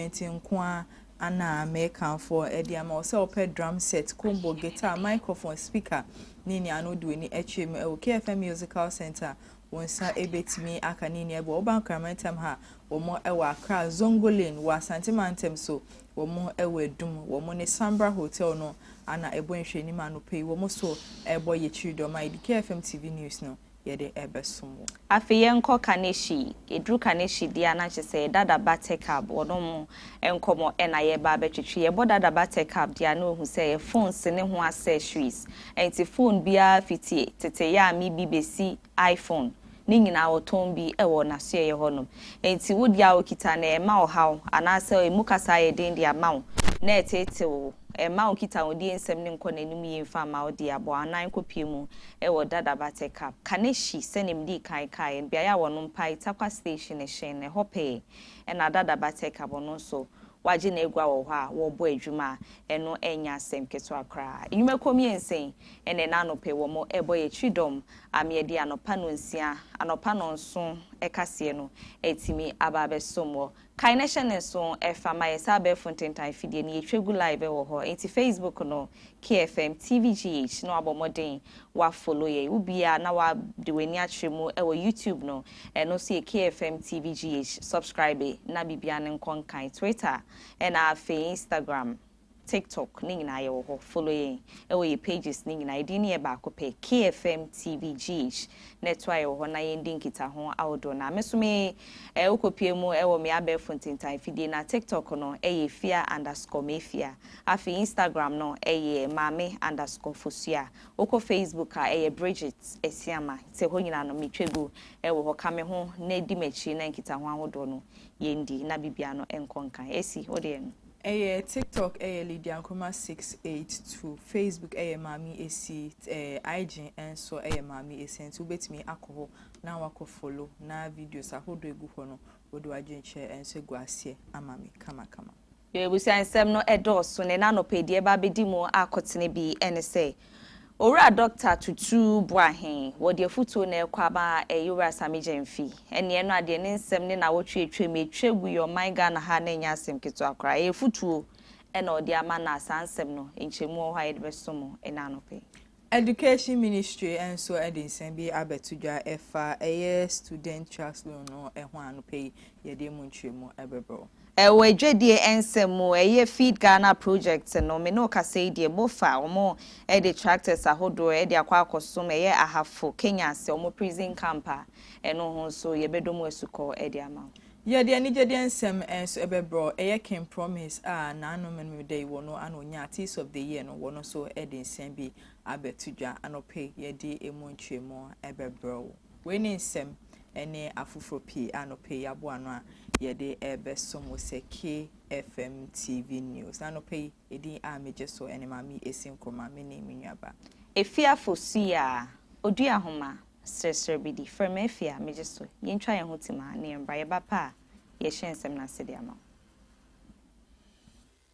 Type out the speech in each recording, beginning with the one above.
instrument nko ara ana merekamfo de ama wo? Sɛ wopɛ drum set, combo, guitar, microphone, speaker, ne nea ano du ani akyerɛ mu wɔ KFM Musical Centre a, wo nsa betumi aka ne nyinaa bi. Wɔ woba Nkrama ntam ha a, wɔwɔ Accra, Zongo Lane, wɔ Asante mantam so, wɔwɔ Adum. Wɔne Sambra Hotel no na ɛbɔ nhwɛanim anɔpa yi. Wɔn nso rebɔ Yɛkyiri Dɔm a yɛde KFM TV News no yɛde bɛsom wo. Afei yɛnkɔ Kaneshie. Yɛduru Kaneshie deɛ a na kyerɛ sɛ Dada ba Tekab wɔnom nkɔmmɔ na yɛreba abɛtwetwe. Yɛbɔ Dada ba Tekab deɛ a na ɔhu sɛ phones ne ho accessories nti phone biara fiti tete Yaami bi bɛsi iPhone ne nyinaa ɔtɔn bi wɔ n'asoɛeɛ hɔnom. Nti wo deɛ a ɔkita no ɛmma ɔhaw anaasɛ ɛmu kasa ayɛ den de ama wo na ɛteetew wo. Ɛmma nkitahodie nsɛm no nkɔ n'anim yie mfa mma wo deɛ a bɔ anan kɔpue mu wɔ Dada Buttercup, Kaneshie, sɛnea medii kan kaeɛ no, beaeɛ a wɔnom pae, Tarkwa Station hyɛn no, ɛhɔ pɛɛ na Dada Buttercup, ɔno nso, wagye n'agua wɔ hɔ a wɔrebɔ adwuma a ɛno nyɛ asɛm ketewa koraa. Nnwumakuo mmiɛnsa yi na ɛnnɛ anɔpa yi wɔrebɔ yɛn Kyidɔm a me de anɔpa nnɔnsia, anɔpa nnɔnson kaseɛ no atumi aba abɛsom wɔ Kae na hyɛ no nso ɛfa ma yɛ saa abɛɛfo ntentan afidie no yɛtwa gu live ɛwɔ hɔ nti facebook no KFM TVGH na wabɔ mmɔden wa follow yɛn wo biaa na wa de w'ani akyerɛ mu ɛwɔ youtube no ɛno nso yɛ KFM TVGH subscribe na biribiaa no nkɔ nkan twitter ɛna afei instagram TikTok ne nyinaa yɛwɔ hɔ follow yɛn ɛwɔ yɛ pages ne nyinaa yɛdin no yɛ baako pɛ KFM TV gyh na ɛtoa yɛwɔ hɔ na yɛndi nkitaho ahodoɔ na me so me ɛɛ wokɔ pue mu ɛwɔ me abɛɛfo ntintan fidie na TikTok no ɛyɛ efia underscore mefia afei Instagram no ɛyɛ maame underscore fosua wokɔ Facebook a ɛyɛ Bridget Asiama nti ɛhɔ nyinaa no me twa gu ɛwɔ hɔ ka me ho na di m'akyi na nkitaho ahodoɔ no yɛndi na biribiara no nkɔ nkan Asi wodeɛ no. Ɛyɛ TikTok ɛyɛ Lydia Nkrumah six eight two, Facebook ɛyɛ Maame Essie, ɛɛ IG nso ɛyɛ Maame Essie nti wobɛtumi akɔ hɔ na wakɔ follow na videos ahodoɔ egu hɔ no wode w'adwenkyerɛ nso agu aseɛ ama me kamakama. Yɛn abusua nsɛm no ɛdɔɔso na ɛna anɔpa yi deɛ ɛba abɛdi mu akɔtene bi ɛne sɛ Owura Dɔkta Tutu Boahen, wɔ deɛ afutuo no ɛrekɔ ama ɛyɛ Owura Asame Gyamfi. Ɛneɛ no adeɛ ne nsɛm ne nawɔtwe atwa mu ɛtwa agu yɛ ɔman Ghana ha no ɛnyɛ asɛm ketewa koraa. Ɛyɛ afutuo ɛna ɔde ama no a saa nsɛm no nkyɛmu wɔ hɔ a yɛde bɛso mo ɛnɛ anɔpa yi. Education Ministry nso de nsɛm bi abɛto dwa ɛfa ɛyɛ Student Trust Loan no ho a anɔpa yi yɛde ɛmu nkyerɛmu ɛbɛbrɛ wo. Ɛwɔ adwadie ɛnsɛm mu ɛyɛ Feed Ghana project no me ne wo kasa yi deɛ bofa wɔn ɛde tractors ahodoɔ ɛde akɔ akɔsom ɛyɛ Ahafo Kenya ase wɔn prison camp a ɛno ho nso yɛbɛdɔ mu asukɔ ɛde ama wo. Yɛde anigyedeɛ nsɛm nso ɛbɛbrɛ wo ɛyɛ King Promise a n'ano menemem da yi wɔ no ana ɔnya Artiste of the Year no wɔ no nso ɛde nsɛm bi abɛto dwa anɔpa yi yɛde ɛmu nkyerɛmu ɛbɛbrɛ wo. Wei ne nsɛm ne afoforɔ pii a anɔpa yi aboa ano a yɛde rebɛsom wo sɛ KFM TV News. Na anɔpa yi, edin a megye so ne Maame Esi Nkrumah, me ne me nuaba. Efiafo Suyaa, Odua nhoma, Seresere bi di, frɛ me afie a megye so, yɛntwa yɛn ho tim a na yɛmmra, yɛba pɛ a yɛhyɛ nsɛm no ase de ama wo.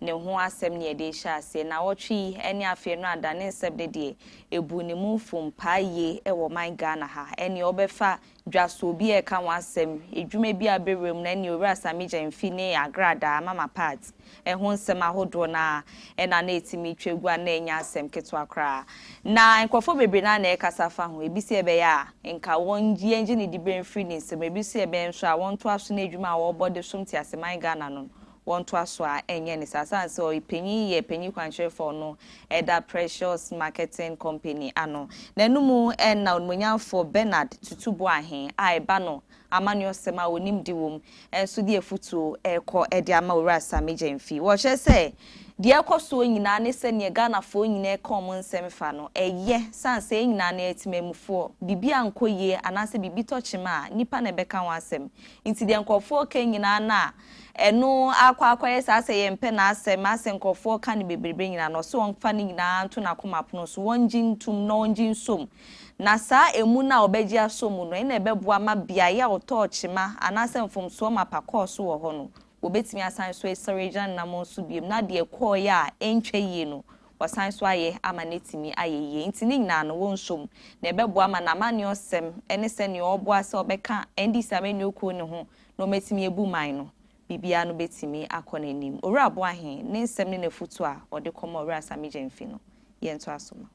ne ho asɛm ne yɛde rehyɛ aseɛ. Nnawɔtwe yi ne afeɛ no adane nsɛm ne deɛ ɛbuu ne mumfo mpaa yie wɔ ɔman Ghana ha. Ɛneɛ wɔbɛfa dwasoɔ bi a ɛka ho asɛm, adwuma bi a bɛwura mu no ɛneɛ Owura Sammy Gyamfi ne agradaa, Mama Pat, ho nsɛm ahodoɔ no ara ɛna na ɛtumi twa gu a na ɛnyɛ asɛm ketewa koraa. Na nkorɔfoɔ bebree no ara na ɛrekasa fa ho, ɛbi sɛ ɛbɛyɛ a nka wɔn yɛngye ne diberɛ mfiri ne nsam, ɛbi nso sɛ ɛbɛyɛ nso a wɔntoa so n'adwuma a wɔrebɔ de som tease man Ghana no wɔntoa so a ɛnyɛ ne saa. Ɛsiane sɛ ɔyɛ panyin yɛ panyin kwankyerɛfo no da Precious Marketing Company ano. N'anom na Onimuonyamfo Bernard Tutu Boahen a ɛba no amanneɔsɛm a onimdi wom nso de afutuo rekɔ de ama Owura Sammy Gyamfi. Wɔkyerɛ sɛ deɛ ɛrekɔ soɔ nyinaa ne sɛ neɛ Ghanafoɔ nyinaa reka wɔn nsɛm fa no, ɛyɛ. Ɛsiane sɛ yɛn nyinaa no yɛ temanmufoɔ, biribi ankɔ yie anaasɛ biribi tɔ kyema a, nnipa na ɛbɛka ho asɛm. Nti deɛ nkurɔfoɔ reka nyinaa no a, Ɛno ara kɔ ara kɔyɛ saa sɛ yɛmpɛ n'asɛm a sɛ nkurɔfoɔ ka no bebrebe nyinaa no, ɔse ɔmfa ne nyinaa nto n'akoma pono so, ɔngye ntom na ɔngye nsom. Na saa emu no a ɔbɛgye asɔ mu no, ɛna ɛbɛboa ma beaeɛ a ɔtɔɔ kyema anaasɛ mfomsoɔ mapa kɔɔ so wɔ hɔ no, wɔbɛtumi asan so asɔre agyina ne namɔn so biom na deɛ ɛkɔɔeɛ a ɛntwa yie no, wɔasan so ayɛ ama no atumi ayɛ yie. Nti ne nyinaa no, wɔnsom. Na ɛbɛboa ma n'amanneɔsɛm ne sɛdeɛ ɔreboa sɛ ɔbɛka NDC amanyɔkuo no ho na wɔatumi abu man no, biribiara no bɛtumi akɔ n'anim. Owura Boahe, ne nsɛm ne n'afotuo a ɔde kɔma Owura Sammy Gyamfi no, yɛntoa so ma.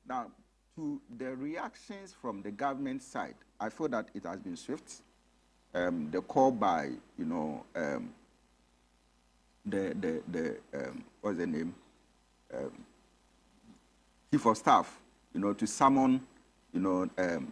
Now to the reactions from the government side, I feel that it has been swift. Um, the call by, you know, um, the, the, the um, what's the name? Um, Chief of Staff, you know, to summon, you know, um,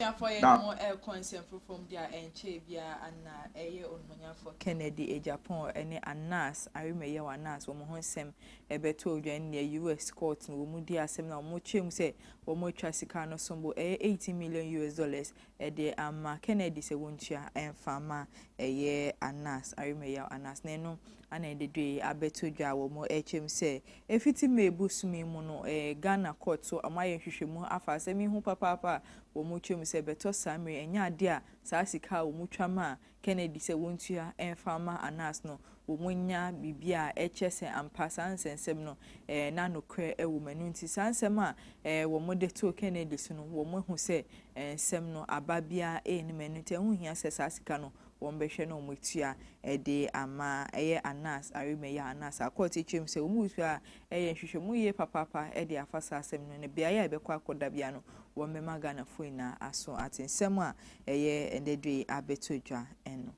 Abusuafoɔ yɛ ne ho rekɔ nsɛm foforɔ mu de a ɛnkyɛɛ biara Anna a ɛyɛ Onumanyafoɔ Kennedy a Japan ne Anna's Arima yɛ wɔ Anna's wɔn ho nsɛm bɛtɔɔ dwa ne nea US. Court no wɔn dii asɛm no a wɔkyerɛɛ mu sɛ wɔatwa sika no som bo ɛyɛ eighteen million US. dollars de ama Kennedy sɛ wɔntua ɛmfa ma ɛyɛ Anna's Arima yɛ wɔ Anna's na ɛno Ana Adedue abɛto dwa wɔ mo ɛkyɛm sɛ ɛfiti May bosom yi mu no ɛɛ Ghana court so ɔmo ayɛ nhwehwɛmu afa asɛm yi ho papaapa a wɔ mo twa mu sɛ ɛbɛtɔ saa mmere ɛnyɛ adeɛ a saa sika a wɔ mo twa maa Kennedy sɛ wɔ ntua ɛmfa mma Anas no wɔ mo nya biribi a ɛkyɛ sɛ ampa saa nsɛnsɛm no ɛɛ na nokorɛ ɛwɔ mu ɛno nti saa nsɛm a ɛɛ wɔ mo de too Kennedy so no wɔ mo ahu sɛ ɛɛ nsɛm no aba biara ɛɛ nim ɛno nti ɛho hia sɛ saa sika no wɔbɛhwɛ na wɔatua de ama ɛyɛ Anas Arime yɛ a Anas akɔ atiakyerɛ mu sɛ wɔn nsuo a ɛyɛ nhwehwɛmu yie papaapa de afa saa asɛm no ne beaeɛ a ɛbɛkɔ akɔda biara no wɔbɛma Ghanafoɔ nyinaa aso ate nsɛm a ɛyɛ ɛnnɛ da yi abɛtɔ dwa no.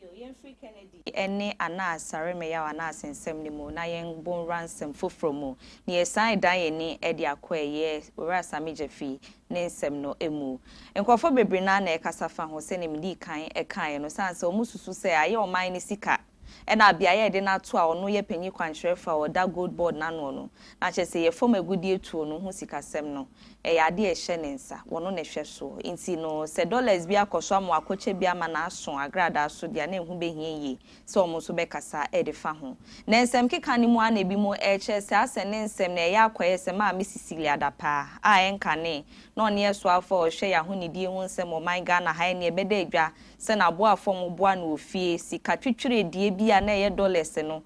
Yo, yɛmfiri Kennedy ne Anas Arime yɛ a Anas nsɛm no mu na yɛnkɔwura nsɛm foforɔ mu. Na yɛsan redan yɛn ani de akɔ ɛyɛ Owura Asame Gyafii ne nsɛm no mu. Nkurɔfoɔ bebree no ara na ɛkasa fa ho, sɛdeɛ medii kan kaeɛ no, sane sɛ wɔsusu sɛ ayɛ ɔman no sika na beaeɛ a yɛde no ato a ɔno yɛ panin kwankyerɛfoɔ a ɔda Gold Board no anoɔ no, na kyerɛ sɛ yɛ fam agudeɛ tuo no ho sikasɛm no, ɛyɛ adeɛ a ɛhyɛ ne nsa, ɔno na ɛhwɛ soɔ. Nti no, sɛ dollars bi akɔ so ama wakɔkyɛ bi ama no aso agradaa so deɛ a na ɛho bɛhia yie sɛ wɔn nso bɛkasa de fa ho. Na nsɛmkeka no mu ara na ebinom rekyerɛ sɛ asɛ ne nsɛm no ɛyɛ akɔyɛ sɛ Maame Cecilia Adapaa a ɛnkanee na ɔne yɛn soafo a ɔhwɛ yɛn ahonidie ho nsɛm wɔ ɔman Ghana ha ɛnneɛ ɛbɛda adwa sɛ n'aboafo a wɔboa no wɔ fie sika twitwiredie bi a na ɛyɛ dɔlɛse no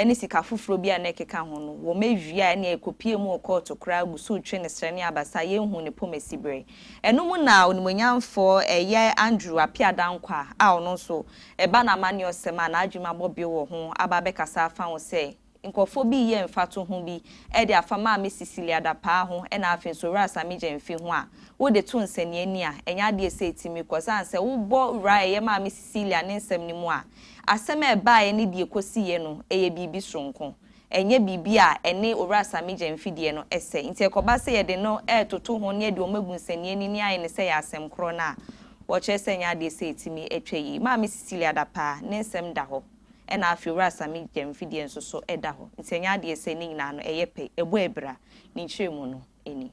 ne sika foforɔ bi a na ɛkeka ho no wɔawia a ɛnneɛ ɛkɔpuee mu wɔ kɔɔto koraa agu so retwe ne serɛ ne abasa a yɛnhuu ne pomasiberɛ. Ɛno mu na Onimuonyamfoɔ ɛyɛ Andrew Appiah Danquah a ɔno nso Ɛba no amanneɔsɛm a n'adwuma bɔ bio wɔ ho aba abɛkasa afa ho sɛ, Nkurɔfoɔ bi reyɛ mfatoho bi de afa Maame Cecilia Dapaah ho na afei nso Owura Sammy Gyamfi ho a wode to nsɛnneani a, ɛnyɛ adeɛ a ɛsɛ sɛ ɛtumi kɔ. Ɛsiane sɛ wobɔ Owura a ɛyɛ Maame Cecilia ne nsɛm no mu a, asɛm a ɛbaeɛ ne deɛ ɛkɔsiiɛ no, ɛyɛ biribi soronko. ɛnyɛ biribi a ɛne Owura Samigye mfidie no sɛ. Nti ɛkɔba sɛ yɛde no retoto ho ne yɛde wɔn agu nsɛnniani ne ayɛ no sɛ ɛyɛ asɛm korɔ no a, wɔkyerɛ sɛ ɛnyɛ adeɛ sɛ ɛtumi twa yie. Maame Cecilia Dapaah ne nsɛm da hɔ, ɛna afei Owura Samigye mfidie nso so da hɔ. Nti ɛnyɛ adeɛ sɛ ne nyinaa no ɛyɛ pɛ, ɛbɔ abira, ne nkyerɛmu no ni.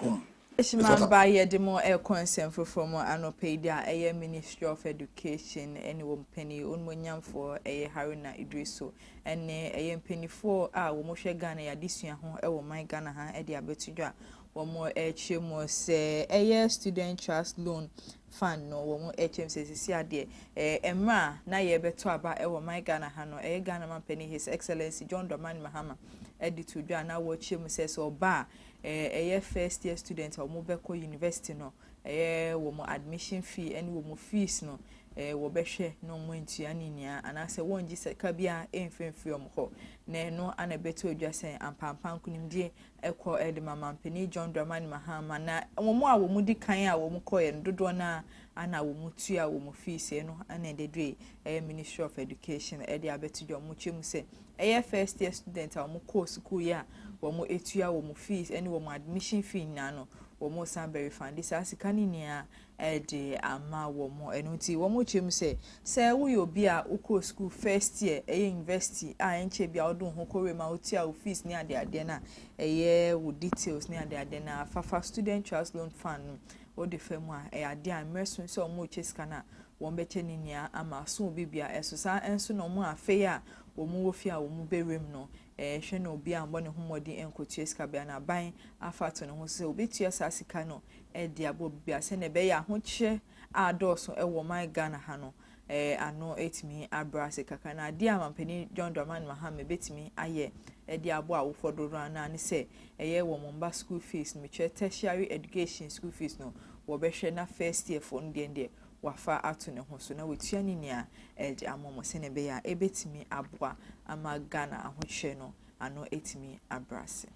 hom. Freshman ba yɛde mo rekɔ nsɛm foforɔ mu anɔpa yi deɛ ɛyɛ Ministry of Education ne wɔn panin onumonyamfoɔ ɛyɛ Haruna Idrisu ɛne ɛyɛ mpanimfoɔ a wɔn hwɛ Ghana yadesua ho ɛwɔ ɔman Ghana ha ɛde abɛto dwa wɔn ɛkyerɛ mu sɛ ɛyɛ Student Trust Loan Fund no wɔn ɛkyerɛ mu sɛ sisi adeɛ ɛɛ mmerɛ a na yɛbɛto aba ɛwɔ ɔman Ghana ha no ɛyɛ Ghana man panin His Excellency John Dramani Mahama ɛde to dwa na wɔkyerɛ mu sɛ sɛ ɔbaa eh, ɛyɛ first year student a wɔbɛkɔ university no, ɛyɛ wɔn admission fee ɛne wɔn fees no, eh, wɔbɛhwɛ na wɔn antua ne nyinaa anaasɛ wɔngye sika biara ɛmfimfiri wɔn hɔ. Na ɛno ana ɛbɛto adwa sɛ ampampa nkonimdie ɛkɔ ɛde ma mampanin John Dramani Mahama na wɔn a wɔn di kan a wɔn kɔɛ no dodoɔ no a ana wɔn tua wɔn fees ɛno ana ɛde dwe ɛyɛ Ministry of Education ɛde abɛto dwa wɔn kyɛ mu sɛ Ɛyɛ first year student a wɔn kɔɔ sukuu yi a wɔn atua wɔn fees ɛne wɔn admission fee nyinaa no wɔn san bɛ refund saa sika no nyinaa ɛde ama wɔn ɛno nti wɔn kyerɛ mu sɛ sɛ woyɛ obi a wokɔɔ sukuu first year ɛyɛ university a ɛnkyɛ bi a wɔde ho kɔwura mu a wotua wo fees ne ade adeɛ no a ɛyɛ wo details ne ade adeɛ no a fafa student trust loan fund no wɔde fa mu a ɛyɛ adeɛ a mmerɛ so sɛ wɔn rekyɛ sika no a wɔbɛkyɛ ne nua ama aso obi bia ɛso saa ɛnso na ɔmo afei a ɔmo wɔ fie a ɔmo bɛ wura mu no ɛɛhwɛ na obi ammɔ ne ho mmɔden ɛnkotua sika bia na aban afa ato ne ho so sɛ ɔbɛtua saa sika no ɛde abɔ obi bia sɛnea ɛbɛyɛ ahokyerɛ a adɔɔso ɛwɔ ɔman Ghana ha no ɛɛ ano ɛtumi abrɛ ase kakra na adeɛ a mampanin John Dramani Mahame bɛtumi ayɛ ɛde abɔ awofoɔ dodoɔ no ara ne sɛ ɛyɛ wɔn mma school fees no mekyerɛ tertiary education school fees no wɔbɛhwɛ na first year foɔ no deɛ deɛ wafa ato ne ho so na watua ne nua a ɛregye ama wɔn sɛnea ɛbɛyɛ a ebetumi aboa ama Ghana ahokyerɛ no ano atumi abrɛ ase.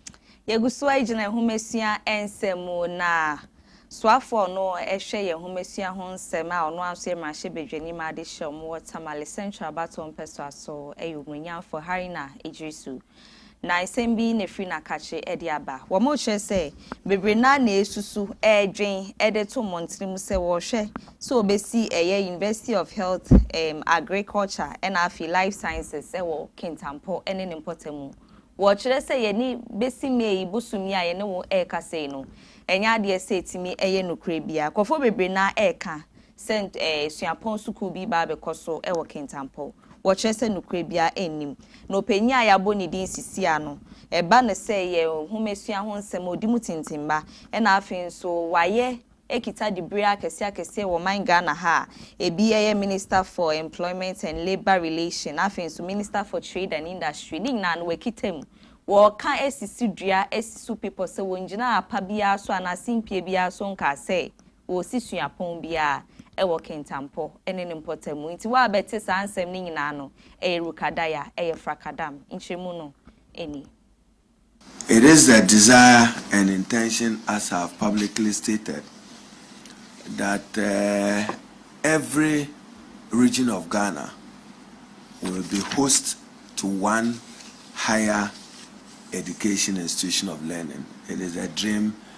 Yɛgu so gyina nhomasua nsɛm mu na soafo a ɔno hwɛ yɛn nhomasua ho nsɛm a ɔno ara nso yɛ mmarahyɛbadwani ma adehyeɛ a wɔwɔ Tamale Central Abattoir Mpɛsoa so yɛ Omunyamfo Harina Iddrisu Na nsɛm bi na ɛfiri n'akakye de aba. Wɔkyerɛ sɛ bebree no ara na ɛresusu, ɛredwen, de to wɔn tirim sɛ wɔrehwɛ sɛ wɔbɛsi ɛyɛ University of Health, Agriculture ɛna afei Life Sciences wɔ Kintampo ne ne mpɔtamu. Wɔkyerɛ sɛ yɛne bɛsi May yi bosom yi a yɛne wo rekasa yi no, ɛnyɛ adeɛ sɛ ɛtumi yɛ nokorɛ biara. Nkorɔfoɔ bebree no ara reka sɛ suapɔn sukuu bi reba abɛkɔ so wɔ Kintampo. Wɔkyerɛ sɛ nokorɛ biara nnim. Na ɔpanyin a yɛabɔ ne din Sisia no, ɛba no sɛ yɛ nhomasua ho nsɛm a ɔdi mu tintimma, ɛna afei nso wayɛ akita diberɛ akɛseɛ akɛseɛ wɔ ɔman Ghana ha a ɛbi ɛyɛ Minister for Employment and Labour Relation na afei nso Minister for Trade and Industry ne nyinaa no wakita mu. Wɔka sisi dua, asi so bepɔ sɛ wɔngyinaa apa biara so anaa simpie biara so nkaa sɛ Wɔsi suapɔn biara wɔ Kintampo ne ne mpɔtamu. Nti woabɛte saa nsɛm no nyinaa no, ɛyɛ Rukadaya, ɛyɛ Frakadam. Nkyerɛmu no ni. It is the desire and intention as I have publicly stated that every region of Ghana will be host to one higher education institution of learning. It is a dream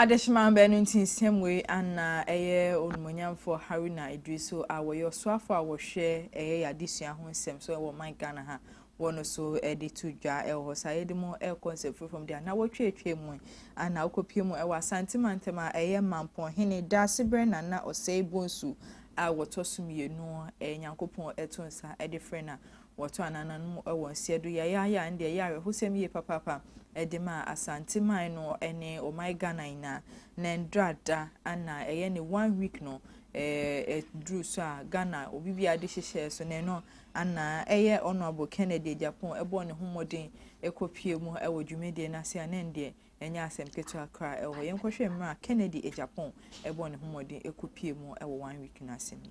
Adehyeman baanu nti nsɛm wei anna ɛyɛ Onumonyamfoɔ Haruna Iddrisu a wɔyɛ ɔsoafoɔ a wɔhwɛ ɛyɛ yɛ adesua ho nsɛm so wɔ ɔman Ghana ha wɔ no so de to dwa wɔ hɔ saa yɛde mu ɛkɔ nsɛmfiri fam deɛ na wɔtwe atwa mu anna wokɔpie mu ɛwɔ Asante mantam a ɛyɛ Mampɔn hene Daasebrɛ Nana Osei Bonsu a wɔtɔ so mmienu ɛyɛ Nyankopɔn ɛto nsa ɛde frɛ na Wɔtɔ anananom wɔ nseɛ do yayaaya a ndɛ ɛyɛ awerɛhosɛm yie papaapa de ma Asante man no ne ɔman Ghana nyinaa. Nɛ ndra da ana ɛyɛ ne one week no aduru so a Ghana obi biara de hyehyɛɛ so nɛ no ana ɛyɛ Honourable Kennedy Agyapong ɛbɔɔ ne ho mmɔden kɔ pue mu wɔ dwumadie no ase a nɛ ndeɛ ɛnyɛ asɛm ketewa koraa wɔ hɔ. Yɛn kɔ hwɛ mmerɛ a Kennedy Agyapong ɛbɔɔ ne ho mmɔden kɔ pue mu wɔ one week no ase no.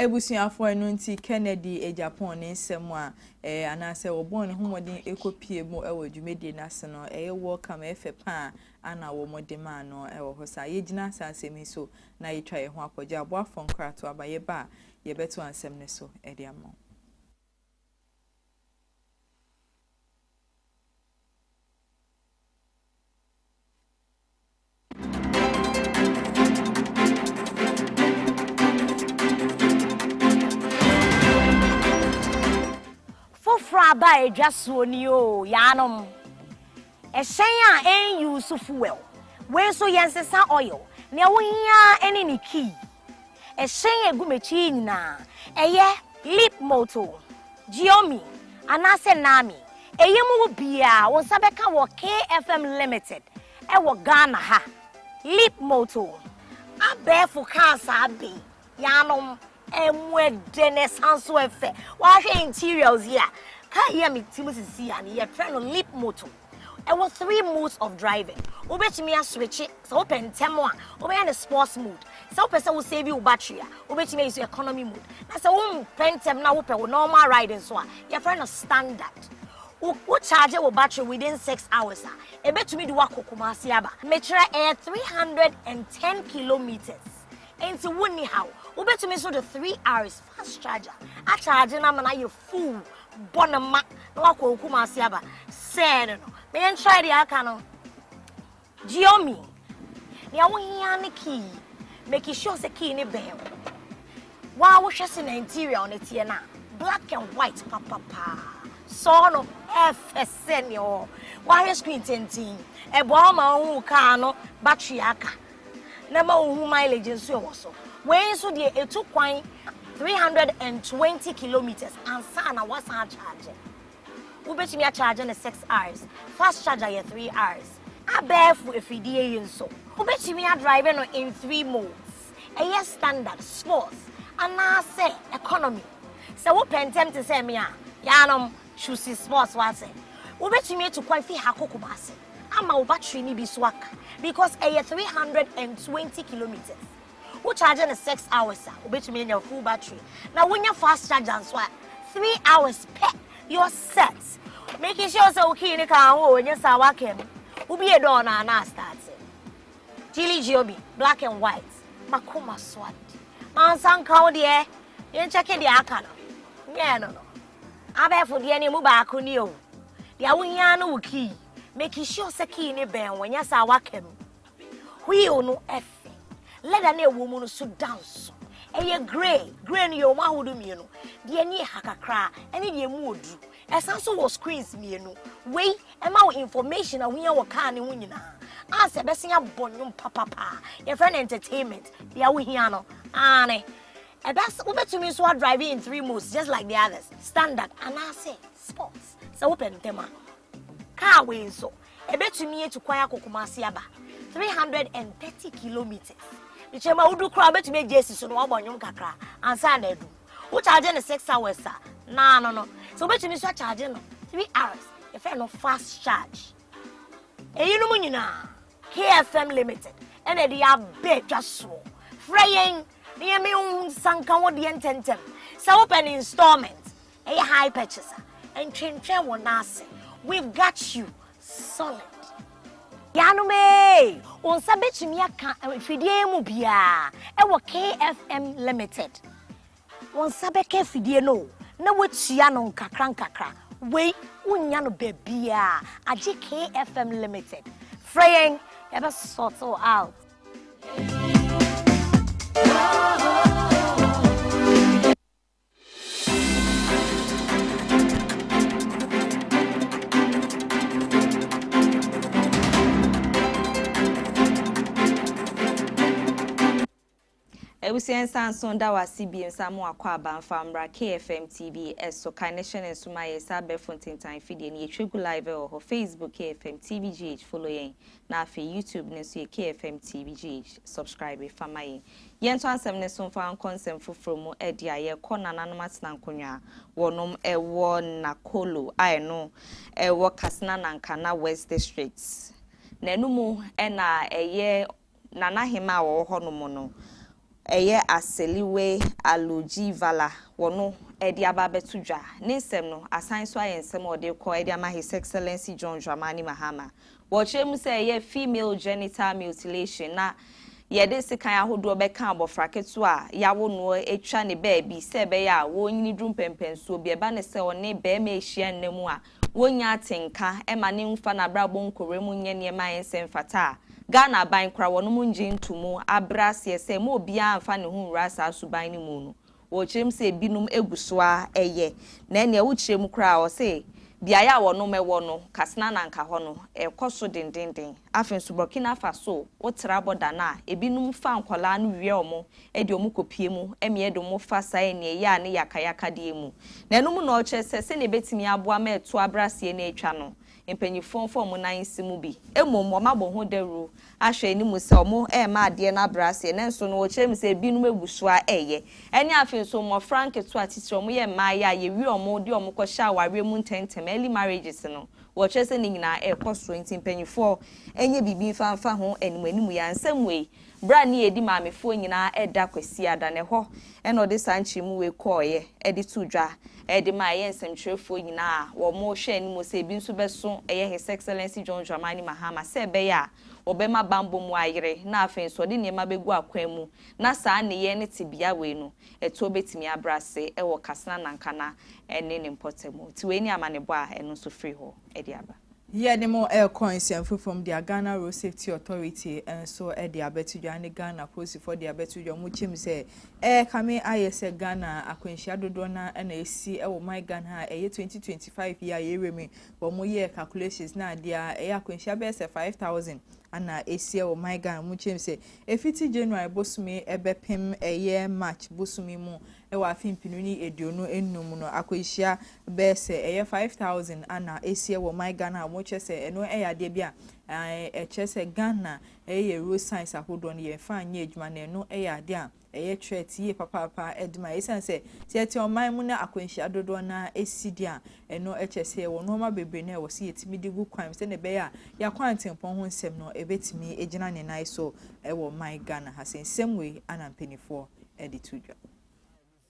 Abusuafo, ɛno nti Kennedy Agyapong ne nsɛm a ɛɛ anaasɛ wɔbɔɔ ne ho mmɔden kɔ pie mu wɔ dwumadie no ase no ɛyɛ welcome, ɛyɛ fɛ pa a ana wɔ mo de maa no wɔ hɔ saa. Yɛ gyina saa nsɛm yi so na yɛ twa yɛ ho akɔgye aboafoɔ nkratoaba yɛ ba a yɛ bɛto ansɛm no so de ama wo. Foforɔ aba a ɛdwa soɔ ni oo, yaanom. Ɛhyɛn a ɛnuse fuel, wei nso yɛnsesa oil, nea wohia ara ne ne key. Ɛhyɛn a ɛgu m'akyi yi nyinaa, ɛyɛ Leapmoto, Giomi anaasɛ Naami, ɛyɛ mu hɔ biara wo nsa bɛka wɔ KFM Limited wɔ Ghana ha. Leapmoto. Abɛɛfo kaa saa bɛ yi. Yɛanom, ɛmu ɛdɛ na ɛsan nso ɛfɛ. Wahwɛ interiors yi a, kaa yi a me ti mu sisi ya no yɛfrɛ no leap motor. Ɛwɔ three modes of driving. Wobɛtumi aswitche sɛ wopɛ ntɛm a wobɛyɛ no sports mode. Sɛ wopɛ sɛ wo save wo battery a wobɛtumi ayi so economy mode. Na sɛ wompɛ ntɛm na wopɛ wo normal ride nso a yɛfrɛ no standard. Wo wo charge wo battery within six hours a ɛbɛtumi de wo akɔ Kumasi aba. Mekyerɛ ɛyɛ three hundred and ten kilometres. Enti wonni haw. Wobɛtumi nso de 3Rs fast charger akyagye no ama no ayɛ full, bɔ no ma na wakɔ wo Kumasi aba. Sɛɛ no no. Ma yɛntrae deɛ aka no. Xiaomi, nea wohia ne key. Make sure sɛ key no bɛn wo. Wo a wohwɛ sɛnea interior no teɛ no a, black and white papapaa. Sɔɔ no, ɛyɛ fɛ sɛ nea ɔwɔ hɔ. Woahwɛ screen tenten. Ɛboa wo ma wohu wo kaa no battery a aka. na ɛma wohu mileage nso ɛwɔ so wei nso deɛ ɛtu kwan 320 kilometers ansa na woasan akyagye wobɛtumi akyagye no 6 hours fast charger yɛ 3 hours abɛɛfo afidie yi nso wobɛtumi adrive no in 3 modes ɛyɛ standard sports anaasɛ economy sɛ wopɛ ntɛm te sɛ me a yɛanom choose sports wase wobɛtumi atu kwan fi ha kɔ kumase ama wo battery no bi so aka because ɛyɛ three hundred and twenty kilometres wo charge no six hours a wobɛtumi anya full battery na wonya fast charger nso a three hours pɛ your set making sure sɛ wo kii ne ka ho o nyɛ saa wakam wobie dɔɔ no ana astarte Chili Giobi, black and white. Makoma swat. Mansan kau deɛ. Yɛn kyɛke deɛ aka no. Nyɛɛ no no. Abɛɛfo deɛ no emu baako nie o. Deɛ wohia ara ne wo key. Make sure sɛ key no bɛn wo, anyɛ saa a woaka mu. Wheel no fɛ. Leather no a ɛwɔ mu no so da nso. Ɛyɛ grey. Grey no yɛwɔ mu ahodoɔ mmienu. Deɛ ani yɛ ha kakra ne deɛ emu wɔ duru. Ɛsan nso wɔ screens mmienu. Wei ɛma wo information a wohia wɔ car no ho nyinaa. Ansa ɛbɛsan abɔ nnwom papapaa. Yɛfrɛ no entertainment. Deɛ wohia no, aane. Ɛda ase, wobɛtumi nso adrive in three modes just like the others, standard anaasɛ sports sɛ wopɛ ntɛm a. Kaa wei nso, ɛbɛtumi atu kwan akɔ Kumasi aba, 330 kilometres. Ne kyerɛ mu a wodu koraa wobɛtumi agye asi so na wabɔ nnwom kakra ansa na adu. Wokyagye no six hours a, naa no no. Sɛ wobɛtumi nso akyagye no three hours, yɛfrɛ no fast charge. Eyinom nyinaa, KFM Limited ɛna ɛde abɛ dwa soɔ. Frɛ yɛn na yɛn mi hu nsanka wo deɛ ntɛntɛm. Sɛ wopɛ ne installment ɛyɛ high purchase a, ntwentwɛn wɔ n'ase. We've got you solid. Yanom ee, wo nsa bɛtumi aka mfidie yi mu biara ɛwɔ KFM Limited. Wo nsa bɛka afidie no o, na woatua no nkakrankakra. Wei, wonnya no baabiara agye KFM Limited. Frɛ yɛn, yɛbɛsort wo out. Abusua nsa nso da w'ase bio san mo akwaaba nfa mmra KFM TV so kae ne hyɛ ne nso ma yɛn sɛ abɛɛfo ntentan fidie no yɛtwa gu live wɔ hɔ Facebook KFM TV GH follow yɛn na afei YouTube no nso yɛ KFM TV GH subscribe fa ma yɛn yɛn nto asɛm no so mfa nkɔ nsɛm foforɔ mu ɛde a yɛkɔ nananom atena nkonnwa a wɔnom ɛwɔ Nakolo a ɛno ɛwɔ Katsina Nankana West District na ɛno mu ɛna ɛyɛ Nanahema a wɔwɔ hɔnom no, ɛyɛ Aseliwe Alujivala wɔn de aba abɛto dwa. Ne nsɛm no, asan nso ayɛ nsɛm a wɔde rekɔ de ama His Excellency John Dramani Mahama. Wɔkyerɛ mu sɛ ɛyɛ female genital mutilation na yɛde sekan ahodoɔ bɛka abɔfra ketewa a yawo noɔ atwa ne baabi sɛ ɛbɛyɛ a ɔrenyini duru mpɛnpɛnsoɔ bi. Ɛba no sɛ ɔne barima rehyia nna mu a, wonnya atenka ma no mfa n'abrabɔ nkɔwura mu nyɛ nneɛma a ɛnsɛ mfata a, Ghana aban kora wɔnom ngye nto mu abrɛ aseɛ sɛ mma obiara mfa ne ho nwura saa suban no mu no. Wɔkyerɛ mu sɛ ebinom gu so ara yɛ, na nea wokyerɛ mu koraa wɔ se beaeɛ a wɔnom wɔ no, Katsina na anka hɔ no, ɛrekɔ so dendenden. Afei nso Burkina Faso, wotra bɔda no a, ebinom fa nkwadaa no wia wɔn de wɔn kɔpue mu mmea de wɔn fa saa aniɛyaa ne yakayakadeɛ mu. Na ɛno mu na ɔkyerɛ sɛ sɛdeɛ ɛbɛtumi aboa ma ɛtoɔ abrɛaseɛ no atwa no, mpanimfoɔ mfa wɔn nan nsi mu bi. Mmom wɔabɔ ho dawuro ahwɛ anim sɛ wɔremma adeɛ no abrɛ aseɛ. Nanso no, wɔkyerɛ mu sɛ ebinom agu so ara reyɛ. Ɛne afei nso mmɔfra nketewa titire, wɔyɛ mmaeɛ a yɛwie wɔn de wɔn kɔhyɛ awareɛ mu ntɛmntɛm, early marriages, no, wɔkyerɛ sɛ ne nyinaa rekɔ so. Enti mpanimfoɔ nyɛ biribi mfa mfa ho animuanimu yi. Ansɛm wei, Berɛ a ne yɛdi maamefoɔ nyinaa ɛda Kwasiada no, ɛhɔ na ɔde saa nkyeremu wei kɔeɛ de too dwa de maa ɛyɛ nsɛmtwerɛfoɔ nyinaa a wɔhwɛ anim sɛ ebi nso bɛso ɛyɛ His Excellency John Dramani Mahama sɛ ɛbɛyɛ a wɔbɛma bammɔ mu ayere na afei nso ɔde nneɛma bɛgu akwan mu na saa nneyɛɛ ne tebea wei no ɛtoɔ bɛtumi abrɛ ase wɔ Kassena Nankana ne ne mpɔtam. Nti wei ne amanebɔ a ɛno nso firi hɔ de aba. Yɛde mo rekɔ nsɛm foforɔ mu deɛ Ghana Road Safety Authority nso de abɛto dwa ne Ghana apolisifoɔ de abɛto dwa wɔn kyɛm sɛ ɛrekame ayɛ sɛ Ghana akwanhyia dodoɔ no ara na ɛsi wɔ man Ghana a ɛyɛ 2025 yi a yɛrewura mu yi wɔyɛɛ calculations na adeɛ a ɛyɛ akwanhyia bɛyɛ sɛ 5000 ana ɛsi wɔ man Ghana wɔn kyɛm sɛ ɛfiti January bosome ɛbɛpem ɛyɛ March bosome mu wɔ afe mpenu ne eduonu enum mu no akwanhyia bɛyɛ sɛ ɛyɛ five thousand ana ɛsiɛ wɔ ɔman Ghana a wɔn kyerɛ sɛ ɛno yɛ adeɛ bi a ɛkyerɛ sɛ Ghana ɛyɛ yɛ road signs ahodoɔ no yɛn fa nyɛ adwuma na ɛno yɛ adeɛ a ɛyɛ threat yie papaapa ɛde ma ɛsiane sɛ sɛ ɛte ɔman mu na akwanhyia dodoɔ na ɛsi deɛ a ɛno kyerɛ sɛ ɛwɔ nneɛma bebree na ɛwɔ sɛ yɛtumi de gu kwan mu sɛdeɛ ɛbɛyɛ a yɛakwan tempɔn ho nsɛm no ɛbɛtumi agyina ne nan so ɛwɔ ɔman Ghana ha sɛ nsɛm wei ana mpanimfoɔ de to dwa.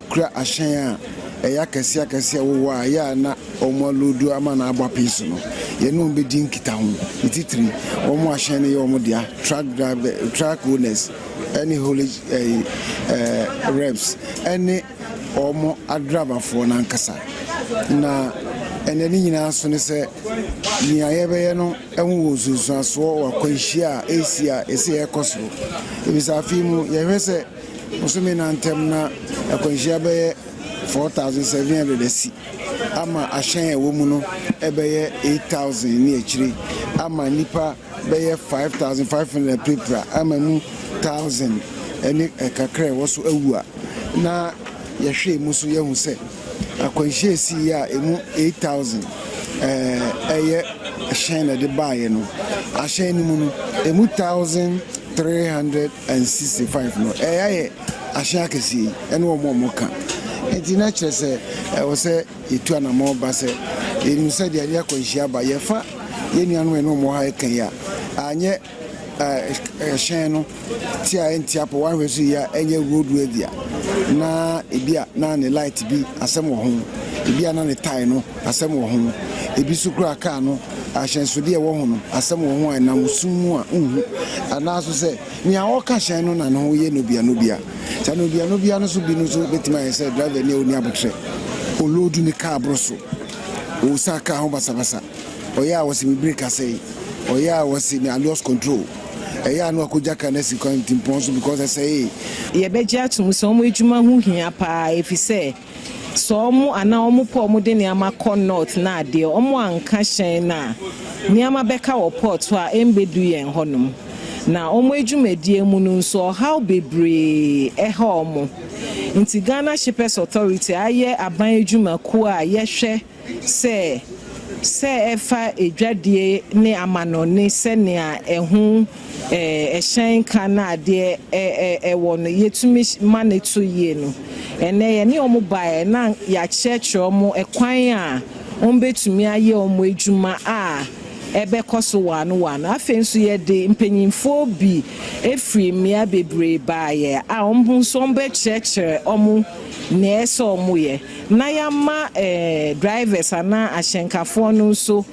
Kura ahyɛn a ɛyɛ akɛse akɛse a ɛwowɔ a ɛyɛ a na wɔaloodu ama no abɔ apee so no, yɛne wɔn bedi nkitaho, ne titiriw wɔn a ahyɛn no yɛ wɔn dea, truck drivers, truck owners, ne haulage reps, ne wɔn adrabafoɔ no ankasa. Na ɛnnɛ ne nyinaa so ne sɛ, nea yɛbɛyɛ no. ho wɔ nsunsuansoɔ wɔ akwanhyia a ɛresi a ɛsɛ yɛkɔ so. Ebisa afe yi mu yɛhwɛ sɛ bosome nan ntam na akwanhyia bɛyɛ 4,700 asi ama ahyɛn a ɛwɔ mu no ɛbɛyɛ 8,000 ne akyire ama nnipa bɛyɛ 5,500 apirapira ama mu 1,000 ne kakra ɛwɔ so awu a na yɛhwɛ mu so yɛhu sɛ Akwanhyia sii a emu 8,000 yɛ hyɛn na ɛde baeɛ no. Ahyɛn no mu no, emu 1,365 no yɛ ahyɛn akɛseɛ yi ne wɔn a wɔka. Nti na kyerɛ sɛ ɛwɔ sɛ yɛtu anammɔn ba sɛ yɛnim sɛdeɛ yɛde akwanhyia ba. Yɛfa yɛn nuanom a yɛne wɔn wɔ ha yi ka yi a, anyɛ. hyɛn no ti a ɛnte apɔ woahwɛ so yie a ɛnyɛ road worthy a na ebi a na ne light bi asɛm wɔ ho ebi a na ne tae no asɛm wɔ ho ebi so kura kaa no ahyɛnsodeɛ ɛwɔ ho no asɛm wɔ ho a ɛnam sum mu a nhu anaa so sɛ nea ɔka hyɛn no na ne ho yɛ nobia nobia saa nobia nobia no so bi no so bɛtumi ayɛ sɛ driver ni a ɔni abotrɛ ɔloodu ne kaa boro so ɔsa kaa ho basabasa Ɔyɛ a ɔse me break asɛe, ɔyɛ a ɔse me lost control, ɛyɛ a na wakɔgya car no asi kwantimpɔn so because ɛsɛee. Yɛbɛgye atom sɛ wɔn adwuma ho hia paa efisɛ sɛ wɔn anaa wɔn pɛ wɔn de nneɛma kɔ North na adeɛ wɔn anka hyɛn no a, nneɛma bɛka wɔ port hɔ a ɛmbɛdu yɛn hɔnom. Na wɔn adwumadie mu no nso ɔhaw bebree ɛha wɔn. Nti Ghana Shippers Authority ayɛ aban adwuma kuo a yɛhwɛ sɛ, sɛ ɛfa adwadie ne amanɔne sɛnea ɛho hyɛn ka na adeɛ ɛwɔ no, yɛtumi ma no to yie no, ɛnnɛ yɛne wɔn baeɛ na yɛakyerɛkyerɛ wɔn ɛkwan a wɔbɛtumi ayɛ wɔn adwuma a ɛbɛkɔ so waano waano. Afei nso yɛde mpanimfoɔ bi firi mmea bebree baeɛ a wɔn nso wɔbɛkyerɛkyerɛ wɔn nea ɛsɛ sɛ wɔyɛ. na yɛama eh drivers anaa ahyɛnkafoɔ no nso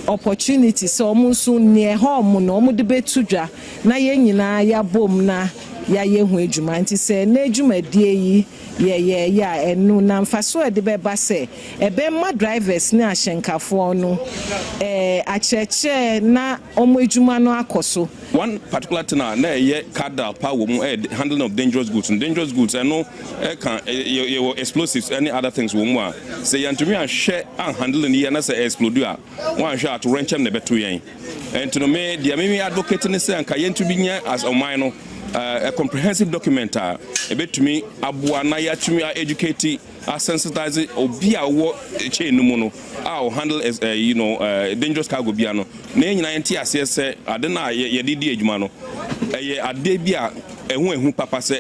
opportunity sɛ wɔn nso nea ɛha wɔn no wɔde bɛto dwa na yɛn nyinaa yɛabom na yɛayɛ ho adwuma. Nti sɛ nnɛ dwumadie yi yɛyɛeɛ a ɛno na mfasoɔ a ɛde bɛba sɛ ɛbɛma drivers ne ahyɛnkafoɔ no eh akyerɛkyerɛ na Wɔn adwuma no akɔ so. One particular thing a na ɛyɛ Kardal paa wɔ mu yɛ the handling of dangerous goods no. Dangerous goods ɛno ɛka yɛ yɛwɔ explosives ɛne other things wɔ mu a sɛ yɛantumi anhwɛ anhandle no yie na sɛ ɛ explode a woanhwɛ a atowerɛnkyɛm na ɛbɛto yɛn. Ɛnti no me deɛ me me advocate ne sɛ anka yɛntumi nyɛ as ɔman no a comprehensive document a ɛbɛtumi aboa na yɛatumi a educate a sensitize obi a ɔwɔ chain no mu no a ɔ handle as uh, you know uh, dangerous cargo bia no na yɛn nyinaa yɛnte aseɛ sɛ ade no a yɛde di adwuma no ɛyɛ adeɛ bi a ɛho ahu papa sɛ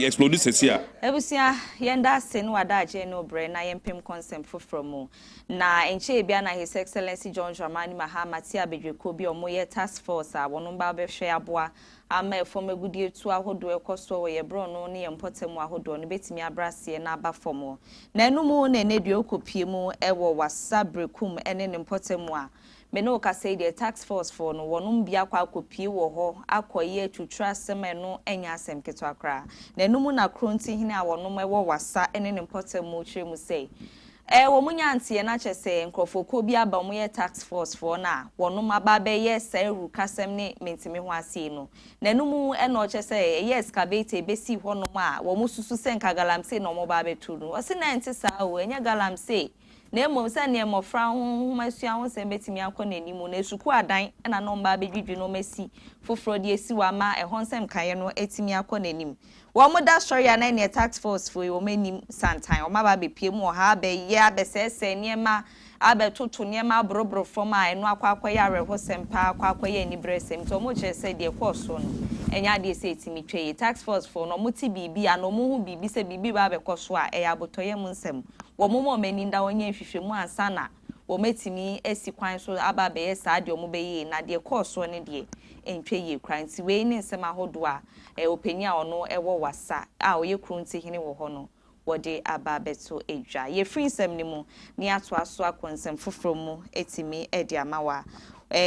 explode sɛsi a. Abusua, yɛn da ase ne w'adagye ne obrɛ na yɛn mpem kɔnsɛm foforɔ mu. Na nkyɛɛ bia na His Excellency John Dramani Mahama te abadwakuo bi a wɔyɛ task force a wɔn ba bɛhwɛ aboa Ama ɛfɔm agudeɛtuo ahodoɔ ɛkɔ soɔ wɔ yɛ brɔno ne yɛ mpɔtam mu ahodoɔ no bɛtumi abrɛ aseɛ na aba fɔm wɔ nano mu na ɛnɛ deɛ ɔkɔ pie mu wɔ wassa berekum ne ne mpɔtam mu a me ne wo kasa yi deɛ task force foɔ no wɔnom bi akɔ akɔ pie wɔ hɔ akɔ yɛ atwutwere asɛm a ɛno nyɛ asɛm ketewa koraa nano mu na kronti hene a wɔnom wɔ wassa ne ne mpɔtam mu kyerɛ mu sɛ Ɛɛ wɔn nya nteɛ na kyɛ sɛ nkorɔfoɔkuo bi aba wɔn yɛ task force foɔ na wɔnom aba abɛyɛ saa awurukasɛm ne mentimi ho aseɛ no na ɛno mu ɛna ɔkyɛ sɛ ɛyɛ excavator ɛbɛsi hɔ nom a wɔn susu sɛ nka galamsey na wɔn ɔba abɛto no ɔse na ɛnte saa o ɛnyɛ galamsey na mmom sɛdeɛ mmɔfra ho nwoma sua ho nsɛm bɛtumi akɔ n'anim na sukuu adan na na wɔn ba abɛdwidwi na wɔn asi foforɔ de asi hɔ ama ɛhɔ nsɛm kaeɛ no atumi akɔ n'anim Wɔda sɔre a na ɛneɛ task force foɔ yi wɔn anim santan wɔn aba abɛpie mu wɔ ha abɛyɛ abɛsɛɛsɛɛ nneɛma abɛtoto nneɛma aboroboro fam a ɛno akɔ akɔyɛ awerɛhosɛm paa akɔ akɔyɛ anibrɛsɛm nti wɔn kyerɛ sɛ deɛ ɛkɔɔ soɔ no ɛnyɛ adeɛ sɛ ɛtumi twa yie task force foɔ no wɔn te biribi anaa wɔn hu biribi sɛ biribi reba abɛkɔ so a ɛyɛ abotɔyam nsɛm wɔn mma wɔn ani nda wɔn nyɛ nhwehwɛmu ansa na wɔatumi asi kwan so aba abɛyɛ saa deɛ wɔbɛyɛ yi, na deɛ ɛkɔɔ soɔ no deɛ, ɛntwa yie koraa. Nti wei ne nsɛm ahodoɔ a ɔpanin a ɔno wɔ Wassa a ɔyɛ kuro ntihene wɔ hɔ no, wɔde aba abɛto dwa. Yɛfiri nsɛm no mu ne atoa so akɔ nsɛm foforɔ mu atumi de ama wo a,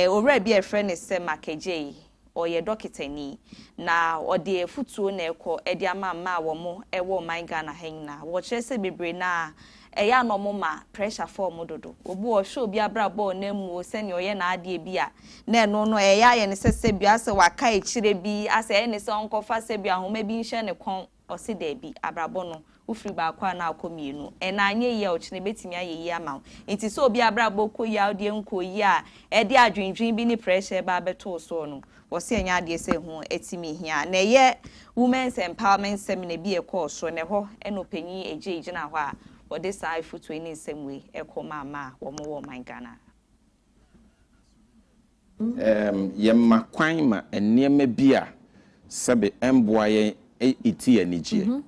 owura bi a yɛfrɛ no sɛ Mac Adjei Ɔyɛ dɔketani, na ɔde afutuo na ɛkɔ de ama mmaa a wɔwɔ ɔman Ghana ha nyinaa. Wɔkyerɛ sɛ bebree no ara, ɛyɛ a na wɔma pressure fa wɔn dodo. Obi wɔ hɔ, ɔhwɛ obi abrabɔ a ɔnam mu o, sɛnea ɔyɛ n'adeɛ bi a, na ɛno no ɛyɛ ayɛ no sɛ sɛbi asɛ waka akyire bi, asɛ ɛyɛ no sɛ ɔnkɔfa sɛbi ahoma bi nhyɛ ne kɔn. Ɔse daabi, abrabɔ no, wofiri baako a na akɔ mmienu. Ɛnɛ anyɛ yie a ɔkyena ɛbɛtumi ayɛ yie ama wo. Nti sɛ obi abrabɔ rekɔ yie a wodeɛ nkɔɔ yie a ɛde adwendwen bi ne pressure reba abɛto wo soɔ no, wɔse ɛnyɛ adeɛ sɛ ɛho atumi hia. Na ɛyɛ Women's Empowerment Seminar bi a ɛkɔɔ so, na ɛhɔ na Ɔpanyin Adjei gyinaa hɔ a ɔde saa afutuo ne nsɛm wei kɔmaa maa wɔn wɔ ɔman Ghana ha. Ɛɛm, yɛma kwan ma nneɛma bi a sɛbe ɛmboa yɛn iti yɛn anigyeɛ.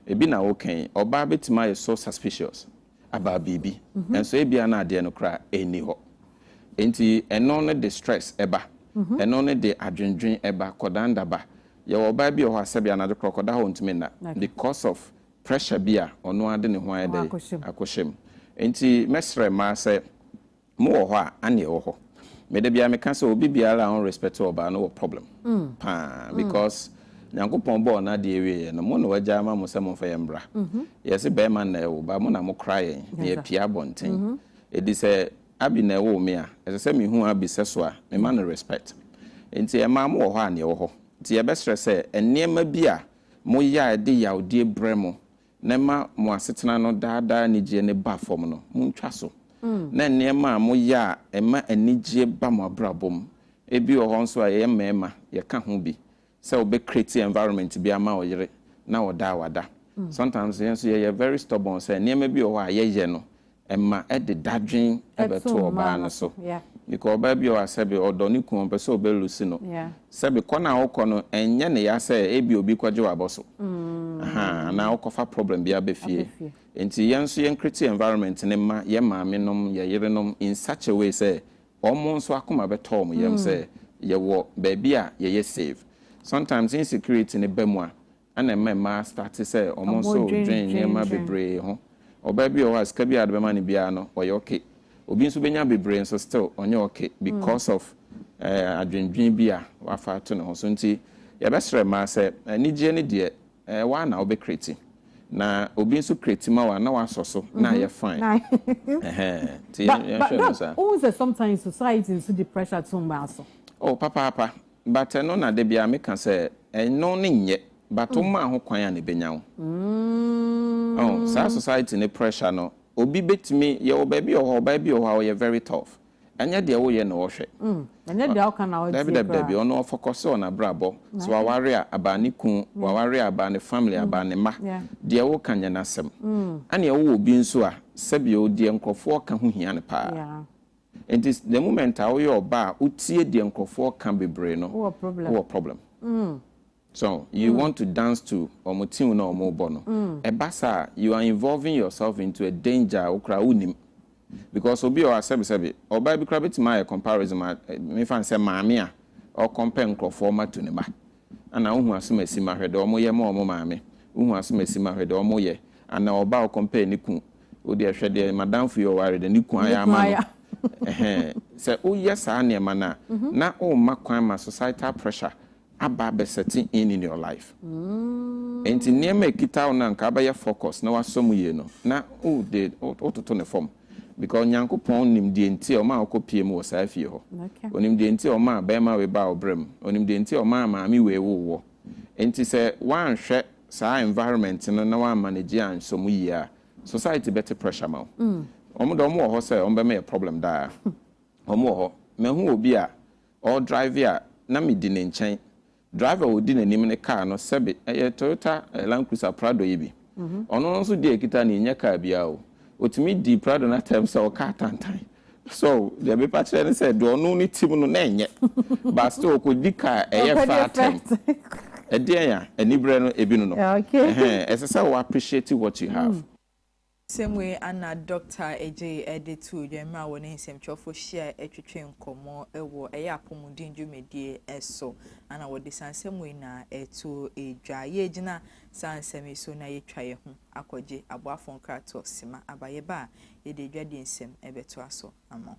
Ebi na woka yi, ɔbaa bɛtumi ayɛ so suspicious about biribi, nanso ebia na adeɛ no koraa ɛnni hɔ. Enti ɛno no de stress ɛba, ɛno no de adwendwen ɛba, kɔdanda ba. Yɛwɔ ɔbaa bi wɔ hɔ a sɛbe anadwo koraa ɔkɔda hɔ a ɔntumi nna because of pressure bi a ɔno ara de ne ho ayɛ dɛ akɔhyɛ mu. Enti mɛsrɛ mmaa sɛ, mo wɔ hɔ a, Annie wɔ hɔ. Me da biara meka sɛ obi biara a ɔn respect ɔbaa no wɔ problem paa because Nyankopɔn bɔɔ no adeɛ wieɛ no mo na wagya ama mo sɛ monfa yɛn mmra. Yɛse bɛɛma na ɛwo ba mo na mo kora yɛn na yɛpie abɔnten. Edi sɛ Abby na ɛwoo me a, ɛsɛ sɛ me hu Abby sɛso a me ma no respect. Enti ɛmaa mo wɔ hɔ a Annie wɔ hɔ. Enti yɛbɛsrɛ sɛ nneɛma bi a mo yɛ a ɛde yawdie brɛ mo na ɛma mo asetena no daa daa anigyeɛ no ba fam no, montwa so. Na nneɛma a mo yɛ a ɛma anigyeɛ ba mo abrabɔ mu, ebi wɔ hɔ nso a yɛyɛ mmarima yɛka ho bi, sɛ wo bɛ create environment bi ama wo yere na ɔda a wada. Sometimes yɛn nso yɛyɛ very stubborn sɛ nneɛma bi wɔ hɔ a yɛyɛ no Ɛma ɛde dadwen bɛto ɔbaa no so because ɔbaa bi wɔ hɔ a sɛbe ɔdɔ ne kunu, ɔmpɛ sɛ ɔbɛ lose no. Sɛbe kɔ no a wokɔ no ɛnyɛ ne ya sɛ ebia obi kɔgye wo abɔ so ahaa anaa wokɔfa problem bi aba fie. Enti yɛn nso yɛn create environment no mma yɛn maame nom, yɛn yerenom in such a way sɛ wɔn nso akoma bɛtɔ wɔn yam sɛ yɛwɔ baabi a yɛyɛ safe. Sometimes insecurity no ba mu a Ɛna ɛma mmaa starte sɛ wɔn nso redwen nneɛma bebree ho. Ɔbaa bi wɔ hɔ a sika biara a wɔde bɛma no biara no ɔyɛ okay. Obi nso bɛnya bebree nso still ɔnyɛ okay because of adwendwen bi a wafa ato ne ho so. Nti yɛbɛsrɛ mmaa sɛ anigyeɛ no deɛ ɛyɛ wo ara na wobɛ create. Na obi nso create ma wo a na wasɔ so na ayɛ fine. Ɛhɛn. Nti yɛnhwɛ no saa. But Doc, wohu sɛ sometimes society nso de pressure to mmaa so? Oh papaapa. But ɛno na da biara meka sɛ ɛno ne nyɛ but wo maa ho kwan a na ɛbɛnya wo. Oh, saa society no pressure no obi bɛtumi, yɛwɔ baabi wɔ hɔ ɔbaa bi wɔ hɔ a ɔyɛ very tough, ɛnyɛ deɛ woyɛ na ɔhwɛ. Ɛnyɛ deɛ woka na ɔtie koraa. Dabi dabi dabi, ɔno ɔfocuse wɔ n'abrabɔ, sɛ waware a about ne kun, waware a about ne family, about ne mma, deɛ woka nyɛ n'asɛm. Ɛneɛ wowɔ obi nso a sɛbi o, deɛ nkorɔfoɔ ka ho hia no paa. Enti the moment a woyɛ ɔba a wotie deɛ nkorɔfoɔ ka bebree no wowɔ problem wowɔ problem so you mm. want to dance to wɔn tune na wɔn bɔ no mm. ɛba saa you are involving yourself into a danger a wokora wonim because obi ɔwɔ asɛbisɛbi ɔbaa bi kora bɛtumi ayɛ comparison ma eh, mefa nsɛ maame a ɔkɔmpɛ nkorɔfoɔ ma tu ne ba Ana wohu asemasi ma hwɛ dɛ ɔmo yɛ ma ɔmo maame wohu asemasi ma hwɛ dɛ ɔmo yɛ ana ɔbaa ɔkɔmpɛɛ ne kun wodeɛ hwɛ deɛ madamfo yi ɔware dɛ ne kun ayɛ ama no ɛhɛn sɛ woyɛ saa nneɛma no a na womma kwan ma societal pressure aba abɛ setting in in your life ɛnti nneɛma a ɛkita wo no a nka wobɛyɛ focus na wasɔ mu yie no na wode wototo ne fam. because Nyankopɔn nim deɛ nti a ɔmaa ɔkɔ pie mu wɔ saa fie hɔ. Ɔnim deɛ nti a ɔmaa bɛɛma wei baa ɔbrɛ mu. Ɔnim deɛ nti a ɔmaa maame wei woo wɔ. Nti sɛ woanhwɛ saa environment no na woan manage ansɔ mu yie a, society bɛte pressure ma wo. Wɔn deɛ wɔn wɔ hɔ sɛ wɔn bɛma yɛ problem daa. Wɔn wɔ hɔ. Mahu obi a ɔredrive a na medi ne nkyɛn. Driver a odi n'anim ne car no sɛbe ɛyɛ Toyota Land Cruiser Prado yi bi. Ɔno nso deɛ ɛkita no nyɛ car biara o. Ɔtumi dii Prado no atɛm sɛ ɔkaa tantan. So deɛ mepa kyerɛ ne sɛ deɛ ɔno ne tim no na ɛnyɛ but still ɔkɔdi car a ɛyɛ fɛ atɛm. Ɛdeɛn a? Aniberɛ no ɛbi no no. Ɛhɛn, ɛsɛ sɛ wo appreciate what you have. Nsɛm wei ara na Dɔkta Adjei de too dwa mmerɛ a wɔne nsɛmtwerɛfoɔ hyiaeɛ twetwee nkɔmmɔ wɔ ɛyɛ apomuden dwumadie so. Ana wɔde saa nsɛm wei na ɛtoo dwa. Yɛregyina saa nsɛm yi so na yɛatwa yɛn ho akɔgye aboafoɔ nkratoɔ sima aba. Yɛba a, yɛde adwadie nsɛm bɛtoa so ama wo.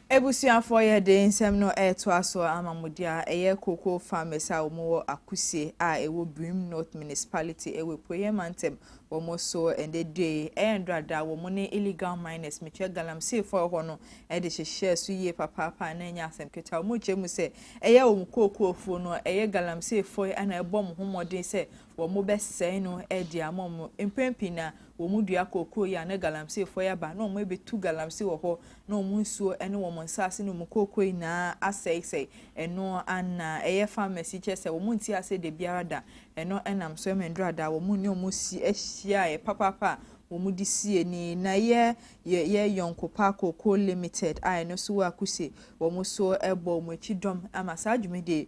Abusuafoɔ yɛ dee nsɛm no retoa soɔ ama mo deɛ a ɛyɛ cocoa farmers a wɔn wɔ Akuse a ɛwɔ Birim North Municipality ɛwɔ Apueɛ Mantam wɔn so ɛndɛ due ɛyɛ ndora da wɔn ne illegal miners metwɛ galamseefoɔ ɛhɔ no de hyehyɛɛ so yie papaapa a na ɛnyɛ asɛm ketewa wɔn kyerɛ mu sɛ ɛyɛ wɔn cocoa fuo no ɛyɛ galamseefoɔ yi na ɛbɔ wɔn ho mmɔden sɛ wɔbɛsɛe no de ama wɔn. Mpɛn pii na wɔdua kookoo yi a, na galamseefoɔ yi aba, na wɔbɛtu galamsey wɔ hɔ, na wɔn nsuo ne wɔn nsaase ne wɔn kookoo nyinaa asɛesɛe. Ɛno ara na ɛyɛ farmers yi, kyerɛ sɛ wɔnte aseɛ da biara da. Ɛno nam so ma nnuru ada, wɔn ne wɔn si hyiaeɛ papaapa a wɔde sie ni. Na yɛ yɛ yɛ Yɔnkopa Kookoo Limited a ɛno nso wɔ Akuse, wɔn nso bɔ wɔn akyi dɔm ama saa dwumadie yi,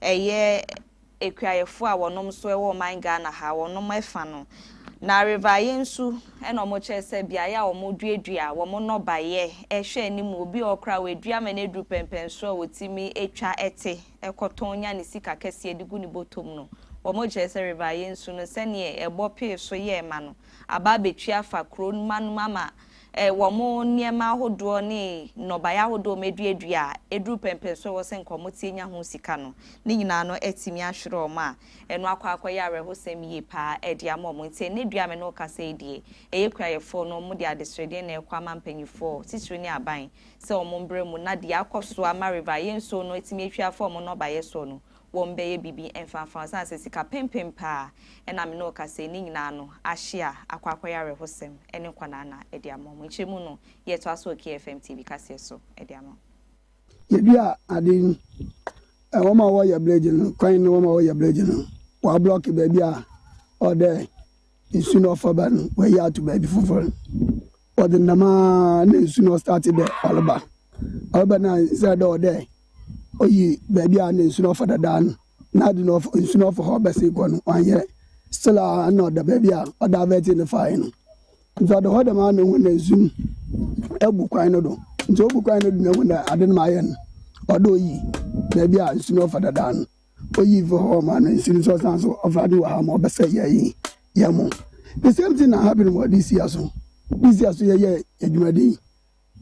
ɛyɛ akuayɛfoɔ a wɔnom nso ɛwɔ ɔman Ghana ha wɔnom ɛfa no na River Aye nso ɛna wɔn kyerɛ sɛ beaeɛ a wɔn duadua wɔn nnɔbaeɛ ɛhwɛ anim obi wɔ hɔ koraa wadua ma no aduru pɛmpɛn soro a ɔtumi ɛtwa ɛte ɛkɔtɔn nya ne sika kɛseɛ de gu ne bɔtɔ mu no wɔn kyerɛ sɛ River Aye nso no sɛdeɛ ɛbɔ pee so yɛɛ ma no aba abɛtwi afa kuro mma no mu ama wɔn nneɛma ahodoɔ ne nnɔbaeɛ ahodoɔ a wɔaduadua a ɛduru pɛmpɛnsoɔ a ɛwɔ sɛ nka wɔteɛ nya ho sika no, ne nyinaa no atumi ahwere wɔn a ɛno akɔ akɔyɛ awerɛhosɛm yie pa ara de ama wɔn. Nti ɛnnɛ dua a me ne wo kasa yi deɛ, ɛyɛ kuayɛfoɔ no wɔde adesrɛdeɛ na ɛrekɔ ama mpanimfoɔ titire ne aban sɛ wɔmmra mu na deɛ akɔ so ama River Ayɛnsuo no atumi atwi afa wɔn nnɔbaeɛ soɔ no, wɔmbɛyɛ biribi mfaafa wo osian sɛ sika pempem paa na me ne wo kasa yi, ne nyinaa no ahye a akɔ akɔyɛ awerɛhosɛm ne nkwanaa na ɛde ama wɔn. Nkyerɛmu no yɛ toa so wɔ KFM TV kaseɛ so de ama wo. Yɛdua ade yi, ɛ, wɔn a wɔyɛ bledge no, kwan no wɔn a wɔyɛ bledge no, wɔablɔke baabi a ɔdɛ nsu no ɔfa ba no, wɔayi ato baabi foforɔ. Ɔdze nam a nna nsu na ɔstart dɛ ɔreba. Ɔreba no a instead dɛ ɔwɔ dɛ oyi beebi a nna nsu no ɔfa dada no, n'adwen dɛ ɔfa nsu no ɔfa hɔ bɛsen kɔ no, ɔannyɛ. Still a nna ɔda beebi a ɔdavɛtee no fae no. Ntsi ɔda hɔ dɛmara na ohun dɛ nsu no ebu kwan no do. Ntsi obu kwan no do na ohun dɛ adze no mayɛ no, ɔwɔ dɛ oyi beebi a nsu no ɔfa dada no. Oyi fi hɔ ma no nsi no nso ɔsan so ɔfa de wɔ ha ma ɔbɛsɛ yɛ yi yɛ mo. The same thing na happen wɔ this year so. This year so yɛyɛ adwumaden yi.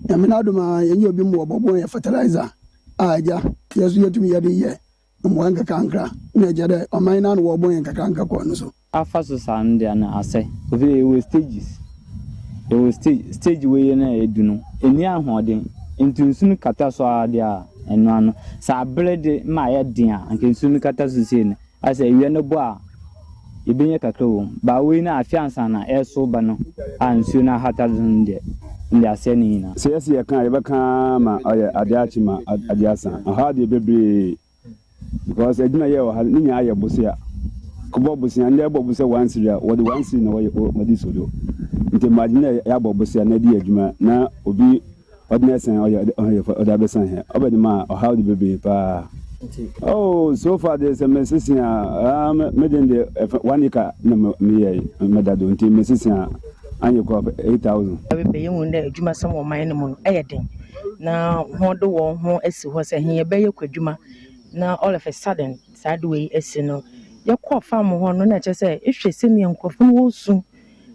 Nyame no adom a yɛnyɛ obi mmoa bɔ bɔn yɛ fertilizer a agya yɛ so yɛtumi yɛde yɛ mmoa nkakrankra na agya dɛ ɔman no ano wɔ bɔn yɛ nkakrankra kɔɔ no so. Afa so saa no dea no asɛ. Efisɛ yɛwɔ stages, yɛwɔ stage, stage wei yɛ no a edu no, enni ahoɔden, nti nsu no kata so ara de a, ɛno ano. Sɛ abere de ma ayɛ den a, anka nsu no kata so sei no, ayɛ sɛ awia no bɔ a, yɛbɛnya kakra wɔ mu. But wei no, afe ansa na ɛresow ba no a nsuo no ahata do no deɛ, ɛnde asɛe ne nyinaa. Sɛ yɛse yɛka a, yɛbɛka ara ma ayɛ ade akye ma ade asa. Ɛhɔ ara deɛ bebree Because adwuma yɛ wɔ ha no ne nyinaa yɛ bosea. Kɔbɔ bosea, ndɛ ɛbɔ bosea one cedi a wɔde one cedi na wɔyɛ wɔde so do. Nti mma adwene dɛ yɛabɔ bosea na yɛde yɛ adwuma na obi ɔde no ɛsan ɔyɛ ɔyɛ ɔde abɛsan hɛ. Ɔbɛ de ma ɔhaw de bebree paa. Oh so far de sɛ mesese a ah me me den de ɛfɛ one acre na me meyɛ mɛda do nti mesese a anyɛ kɔ eight thousand. Bebree yɛhu dɛ adwumasɛm wɔ ɔman no mu no yɛ den. na hɔn de hɔn ho esi hɔ sɛ hɛn yɛbɛyɛ kwadwuma na all of a sudden saa ade wei esi no. Yɛkɔɔ farm hɔ no na kyerɛ sɛ ehwɛ sɛnea nkorɔfo no worusu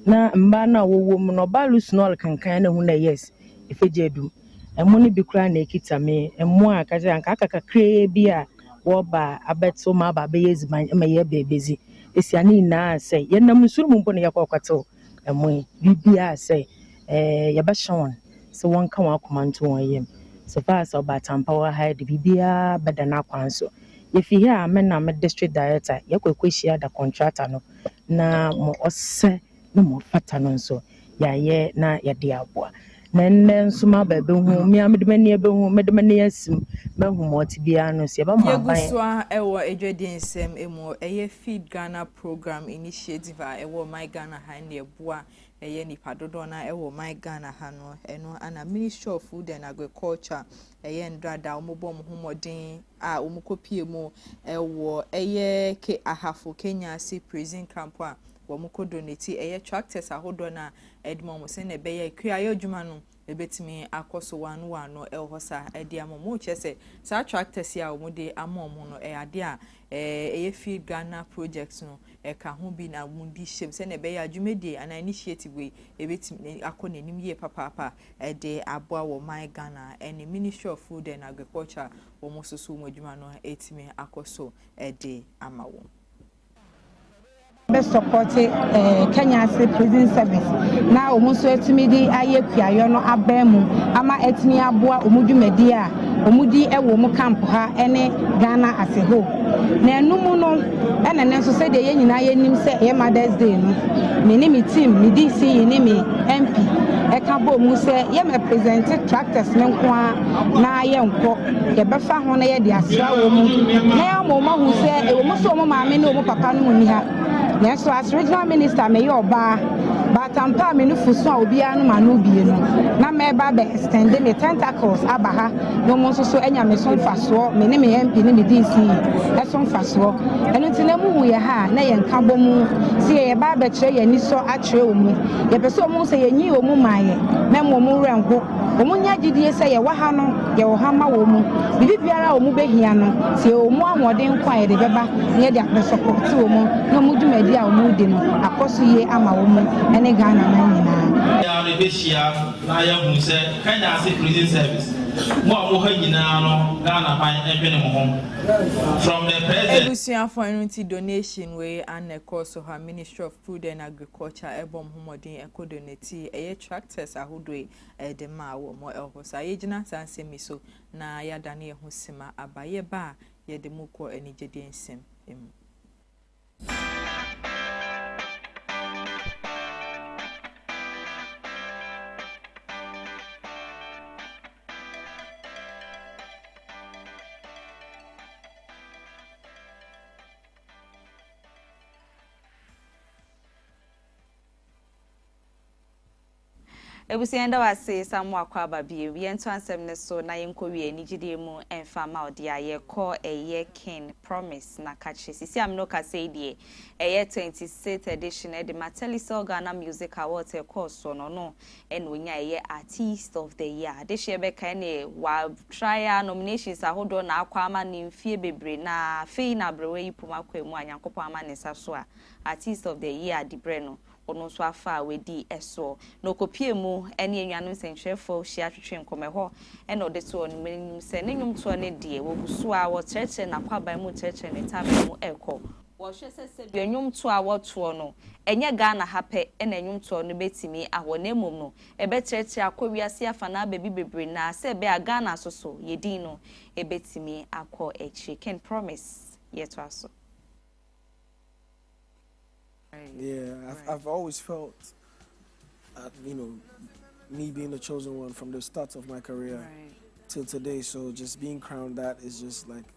na mbaa no a wɔwɔ mu no ɔbaa rusu na ɔrekenkan na ehu dɛ yes efegya edu mu. Mbo no bi koraa na ekitsa me, mbo a nka sɛ anka aka kakraa bi a wɔreba abɛtsew ma aba abɛyɛ edziban ma yɛaba ebedzi. Esia ne nyina sɛ yɛnam nsu no mu mpo na yɛkɔɔ kɔtsew mbo yi. Biribiara sɛ yɛbɛhyɛ hɔn. sɛ wɔnka wɔn akoma nto wɔn yam. So far as Ɔba Attampah wɔ ha yi de, biribiara bɛda n'akwan so. Yɛfi ha a, me na me district director yɛakɔ akɔhyia da contractor no na ma ɔsɛ na ma ɔfata no nso yɛayɛ na yɛde aboa. Na nnɛ nso maba ɛbɛhu, me ara mede m'ani ɛbɛhu, mede m'ani asim, mahu ma ɔte biara no nso yɛbɛma Yɛgu aban. so ara ɛwɔ adwadie nsɛm mu. Ɛyɛ Feed Ghana Programme Initiative a ɛwɔ MyGhana ha ne ɛboa ɛyɛ nipa dodoɔ no ara wɔ my Ghana ha no ɛno na ministry of food and agriculture ɛyɛ ndrada wɔn bɔ wɔn ho mmɔden a wɔn kɔ pie mu ɛwɔ ɛyɛ ke ahafo kenya ase prison camp a wɔn kɔ donate ɛyɛ tractors ahodoɔ no a ɛde wɔn sɛ na ɛbɛyɛ kuayɔ adwuma no Ebetumi akɔ so wɔano wɔano wɔ hɔ saa de ama wɔn. Kyerɛ sɛ, saa tractors yi a wɔde ama wɔn no, ɛyɛ adeɛ a ɛyɛ Feed Ghana project no ka ho bi na wɔde hyɛm sɛdeɛ ɛbɛyɛ a dwumadie anaa initiative wei ɛbɛtumi akɔ n'anim yie papaapa de aboa wɔ My Ghana ne Ministry of Food and Agriculture wɔn nso so wɔn adwuma no atumi akɔ so de ama wɔn. bɛ sɔpɔte Kenya ase prison service na wɔn nso atumi de ayɛ kuayɔ no abɛn mu ama atumi aboa wɔn dwumadi a wɔdi wɔ wɔn camp ha ne Ghana ase hɔ. Na ɛno mu no, ɛna ne nso sɛdeɛ yɛn nyinaa yɛnim sɛ ɛyɛ Mother's Day no, me ne me team, me DC ne me MP ɛka bɔɔ mu sɛ yɛmɛ presente tractors no nko ara na yɛnkɔ, yɛbɛfa ho na yɛde asra wɔn, na yɛama wɔn ahu sɛ ɛwɔ mu sɛ wɔn maame ne wɔn papa no nni ha, nanso as regional minister meyɛ ɔbaa, but ampa a me nufusu a obiara nom ano bie no, na mɛba abɛ extend me tentacles aba ha na wɔn nso so anya me so mfasoɔ, me ne me MP ne me DC so mfasoɔ. Ɛno nti na mohu yɛn ha a na yɛnka bɔ mu sɛ yɛreba abɛkyerɛ yɛn anisɔ akyerɛ wɔn. Yɛpɛ sɛ wɔn hu sɛ yɛnyii wɔn maa yɛn, na mmom mo werɛ nho. Wɔnya gyidie sɛ yɛwɔ ha no yɛ ɔha ma wɔn. Biribi biara a wɔn bɛhia no, sɛ yɛwɔ wɔn ahoɔden nko a yɛde bɛba na yɛde apɛ sɔkɔ te wɔn ne wɔn dwumadie a wɔn redi no akɔ so yie ama wɔn ne Ghana man nyinaa. Yɛn nyinaa bɛhyia na yɛahunu sɛ Kenya ase prison service, mo a mo ha nyinaa no Ghana man ndwene mo ho. From the president. Abusuafo ɛno nti donation wei anna ɛkɔɔso ha Ministry of. Food and Agriculture ɛbɔ ɔmo ho mmɔden ɛkɔ do ne ti ɛyɛ tractors ahodoɔ yi ɛde ma wɔ mo ɛhɔ saa yɛgyina saa nsɛm yi so na yɛadane yɛn ho sima aba yɛba a yɛde mo kɔ anigyedeɛ nsɛm mu. Abusua yɛda wo ase san mo akɔ aba bio yɛn to ansɛm no so na yɛn kɔ wie anigyedie mu ɛnfa ma wo deɛ yɛ kɔ ɛyɛ kin promise na kakye sisi a me ne wo kasa yi deɛ ɛyɛ 26th edition ɛde ma Telecel Ghana Music Awards ɛkɔɔ soɔ no ɔno na ɔnya ɛyɛ Artiste of the year adehyeɛ bɛka ɛne wa try a nominations ahodoɔ na akɔ ama no mfie bebree na afei na aberewa yi pom akɔ ɛmu a Nyankopɔn ama ne nsa so a Artiste of the year adibrɛ no ɔno nso afa a wadi ɛsoɔ na ɔkɔpie mu ɛne anuanom sɛnkyerɛfoɔ hyia twetwe nkɔmɔ ɛhɔ na ɔde to wɔn anim sɛ ne nwomtoɔ no deɛ wɔgu so ara wɔkyerɛkyerɛ n'akwaban mu kyerɛkyerɛ ne taban mu ɛkɔ Wɔhwɛ sɛ sɛdeɛ nnwomtoɔ a wɔtoɔ no, ɛnyɛ Ghana ha pɛ na nnwomtoɔ no bɛtumi ahɔ, na mmom no, ɛbɛtrɛtrɛ akɔ wiase afanaa baabi bebree na sɛ ɛbɛyɛ a Ghana nso so, yɛn din no bɛtumi akɔ akyire. Ken Promise, yɛtoa so. Yeah, I've, I've always felt, uh, you know, me being the chosen one from the start of my career right. till today. So just being crowned that is just like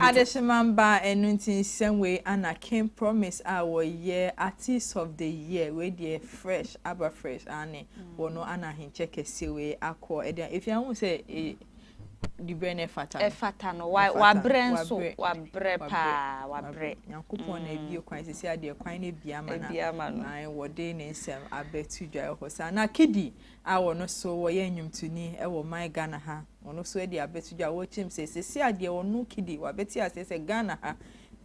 Adesoman baa ɛno nti nsɛm wei ana King promise a wɔyɛ artist of the year wei deɛ fresh aba fresh aane wɔno ana ahenkyɛ kɛseɛ wei akɔ ɛdeɛ ɛfie ahu sɛ dibrɛ no ɛfata no ɛfata no wabrɛ nso wabrɛ paa wabrɛ nyankopɔn na ɛbie kwan sisi adeɛ kwan no ɛbie ama no wɔde ne nsɛm abɛto dwa ɛhɔ saa na kidi a ɔno so ɔyɛ nnwomtoni wɔ ɔman Ghana ha, ɔno so adi abɛto dwa, ɔrekyerɛ mu sɛ seesei a deɛ ɔno rekidi, wabɛte aseɛ sɛ Ghana ha,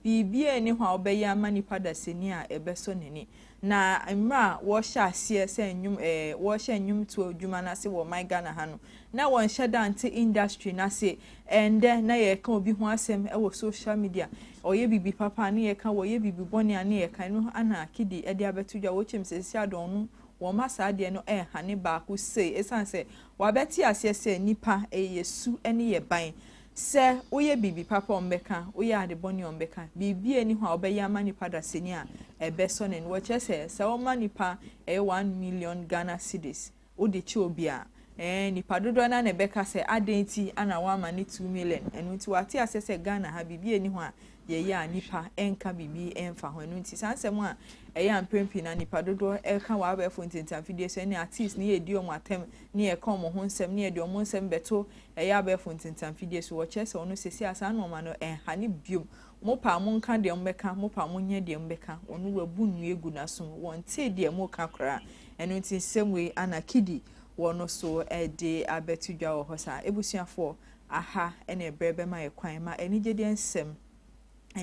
biribiara nni hɔ a wobɛyɛ ama nipa dasani a ɛbɛsɔ n'ani. Na mmerɛ a wɔrehyɛ aseɛ sɛ nnwom ɛɛ wɔrehyɛ nnwomtoɔ adwuma no ase wɔ ɔman Ghana ha no, na wɔnhyɛ da nte industry no ase. Ɛndɛ na yɛreka obi ho asɛm wɔ social media, ɔyɛ biribi papa a ne yɛka, ɔyɛ biribi bɔne a ne yɛka, ɛno ara na Kidi de abɛto dwa, ɔrekyerɛ mu sɛ seesei a deɛ ɔno wɔma saa adeɛ no hane baako sei ɛsiane sɛ wɔabɛte aseɛ sɛ nnipa ɛyɛ yɛ su ne yɛ ban. Sɛ woyɛ biribi papa a wɔbɛka, woyɛ ade bɔne a wɔbɛka. Biribiara nni hɔ a wobɛyɛ ama nnipa dasani a ɛbɛsɔ n'ani. Wɔkyerɛ sɛ sɛ woma nnipa ɛyɛ one million Ghana cedis wode kyɛ obi a, ɛɛ nnipa dodoɔ no ara na ɛbɛka sɛ adɛn nti na woama no two million. Ɛno nti wɔate aseɛ sɛ Ghana ha biribiara nni hɔ a yɛyɛ a nnipa nka biribi mfa ho. Ɛno nti, saa nsɛm a ɛyɛ a mpɛn pii no nnipa dodoɔ ka wɔ abɛɛfo ntentanfidie so ne artists ne yɛdi wɔn atɛm ne yɛka wɔn ho nsɛm ne yɛde wɔn nsɛm bɛto ɛyɛ abɛɛfo ntentanfidie so. Wɔkyerɛ sɛ wɔn seesei a saa nnoɔma no ɛnha no biom. Mopɛ a monka deɛ mobɛka, mopɛ a monyɛ deɛ mobɛka, wɔn wabu nnua agu n'asom, wɔntee deɛ moreka koraa. Ɛno nti nsɛm wei Anna Kiddy wɔ no so de abɛto dwa wɔ hɔ saa. Abusuafoɔ, Aha ne bere bɛma yɛn kwan ma anigyedeɛ nsɛm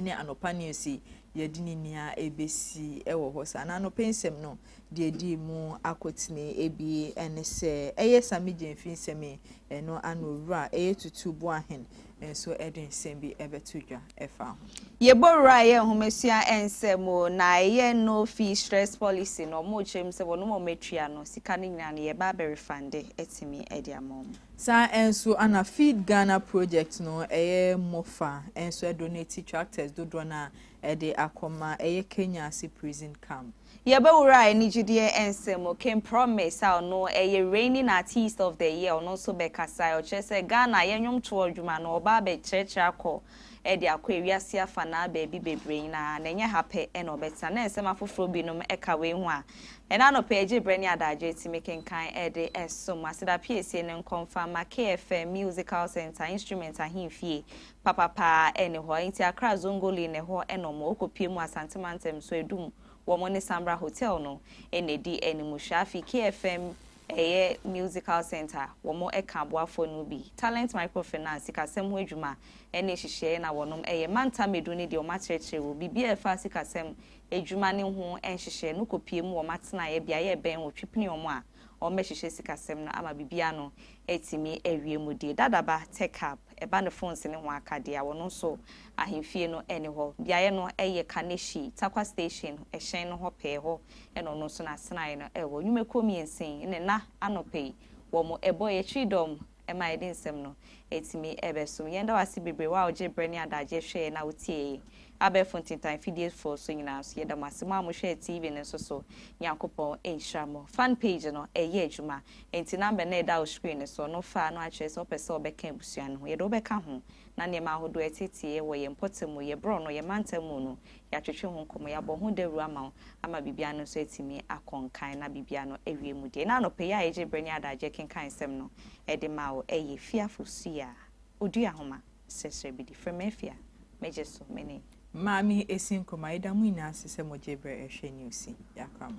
ne anɔpa news yi yɛde ne nia ɛbɛsi wɔ hɔ saa. Na anɔpa nsɛm no deɛ ɛdi mu akotene ebi ne sɛ ɛyɛ Sami Gyamfi nsɛm yi ɛno ano wura ɛyɛ Tutu Boahen nso ɛde nsɛm bi ɛbɛto dwa ɛfa ho. Yɛbɔ wura ɛyɛ nhomasua nsɛm o na ɛyɛ no fee stress policy no wɔn kyerɛ mu sɛ wɔnom wɔn atua no sika no nyinaa no yɛba abɛ refund ɛtumi ɛde ama wɔn. Saa nso ana Feed Ghana project no ɛyɛ mmɔfa nso ɛdonati tractors dodoɔ no a ɛde akɔma ɛyɛ Kenya ase prison camp. Yɛbɛwura anigyedeɛ nsɛm mu, King Promise a ɔno ɛyɛ reigning artiste of the year ɔno nso bɛkasaeɛ, ɔkyerɛ sɛ Ghana yɛn nnwomtoɔ adwuma no ɔba abɛkyerɛkyerɛ akɔ de akɔ ewiase afanaa baabi bebree nyinaa, na ɛnyɛ ha pɛ na ɔbɛtena. Na nsɛm afoforo binom ka wei ho a ɛnnɛ anɔpa yi egye bere ne adagyew ti mekenkan de som. Aseda Piesie no nkɔ mfa mma KFM Musical Centre, Instrument Ahemfie papa paa nni hɔ, enti Accra Zongoli na ɛhɔ na wɔn wɔkɔpue mu Asante Mantam so adum wɔn ne Sambra Hotel no na ɛdi animhwɛ. Afei KFM ɛyɛ Musical Centre a wɔn ɛka aboafoɔ no bi, Talent Microfinance, Sikasɛm ho adwuma ɛne nhyehyɛeɛ na wɔnom ɛyɛ. Mantam Edu ne deɛ wɔn akyerɛkyerɛ wɔ biribi a ɛfa sikasɛm adwuma no ho nhyehyɛeɛ no kɔpie mu wɔn atenaeɛ beaeɛ ɛbɛn wɔ Twipini wɔn a wɔn bɛhyehyɛ sikasɛm no ama biribi ano atumi awie mu die. Dadaba Tech Hub, ɛba ne phones ne ho akadeɛ a wɔnom so ahemfie no ɛne hɔ. Beaeɛ no ɛyɛ Kaneshie, Tarkwa Station, ɛhyɛn no hɔ pɛɛ hɔ Ɛna ɔno nso n'asenae no wɔ nnwumakuo mmiensa yi ne nna anɔpa yi wɔ mo ɛbɔ yɛ akyiri dɔm ma yɛde nsɛm no ɛtumi ɛbɛ som yɛn da wo ase bebree wo a wogye berɛ ne adagyeɛ hwɛ yɛn na wo tie yɛn abɛɛfo ntintan fidie foɔ so nyinaa nso yɛda mo ase mo a mo hwɛ TV no nso so Nyankopɔn nhyira mo fan page no ɛyɛ adwuma ɛnti number no a ɛda wo screen no so no fa no akyerɛ sɛ wopɛ sɛ wobɛka abusua no ho yɛde wobɛka ho na nneɛma ahodoɔ ɛteteɛ wɔ yɛn mpɔtam mu yɛn borɔno yɛn mantam mu no Yɛatwetwe ho nkɔmmɔ, yɛabɔ ho dawuru ama wo ama biribiara no nso atumi akɔ nkan na biribiara no awie mu deɛ. Ná anɔpa yi a yɛgyee berɛ ne adagyeɛ kenkan nsɛm no de maa wo yɛ fie afosua. Odua nhoma srɛsrɛ bi di. Frɛ me afie a megye so me ne. Maame Esi Nkrumah. Yɛda mo nyinaa ase sɛ mogyee berɛ rehwɛ news yi. Yɛakora mo.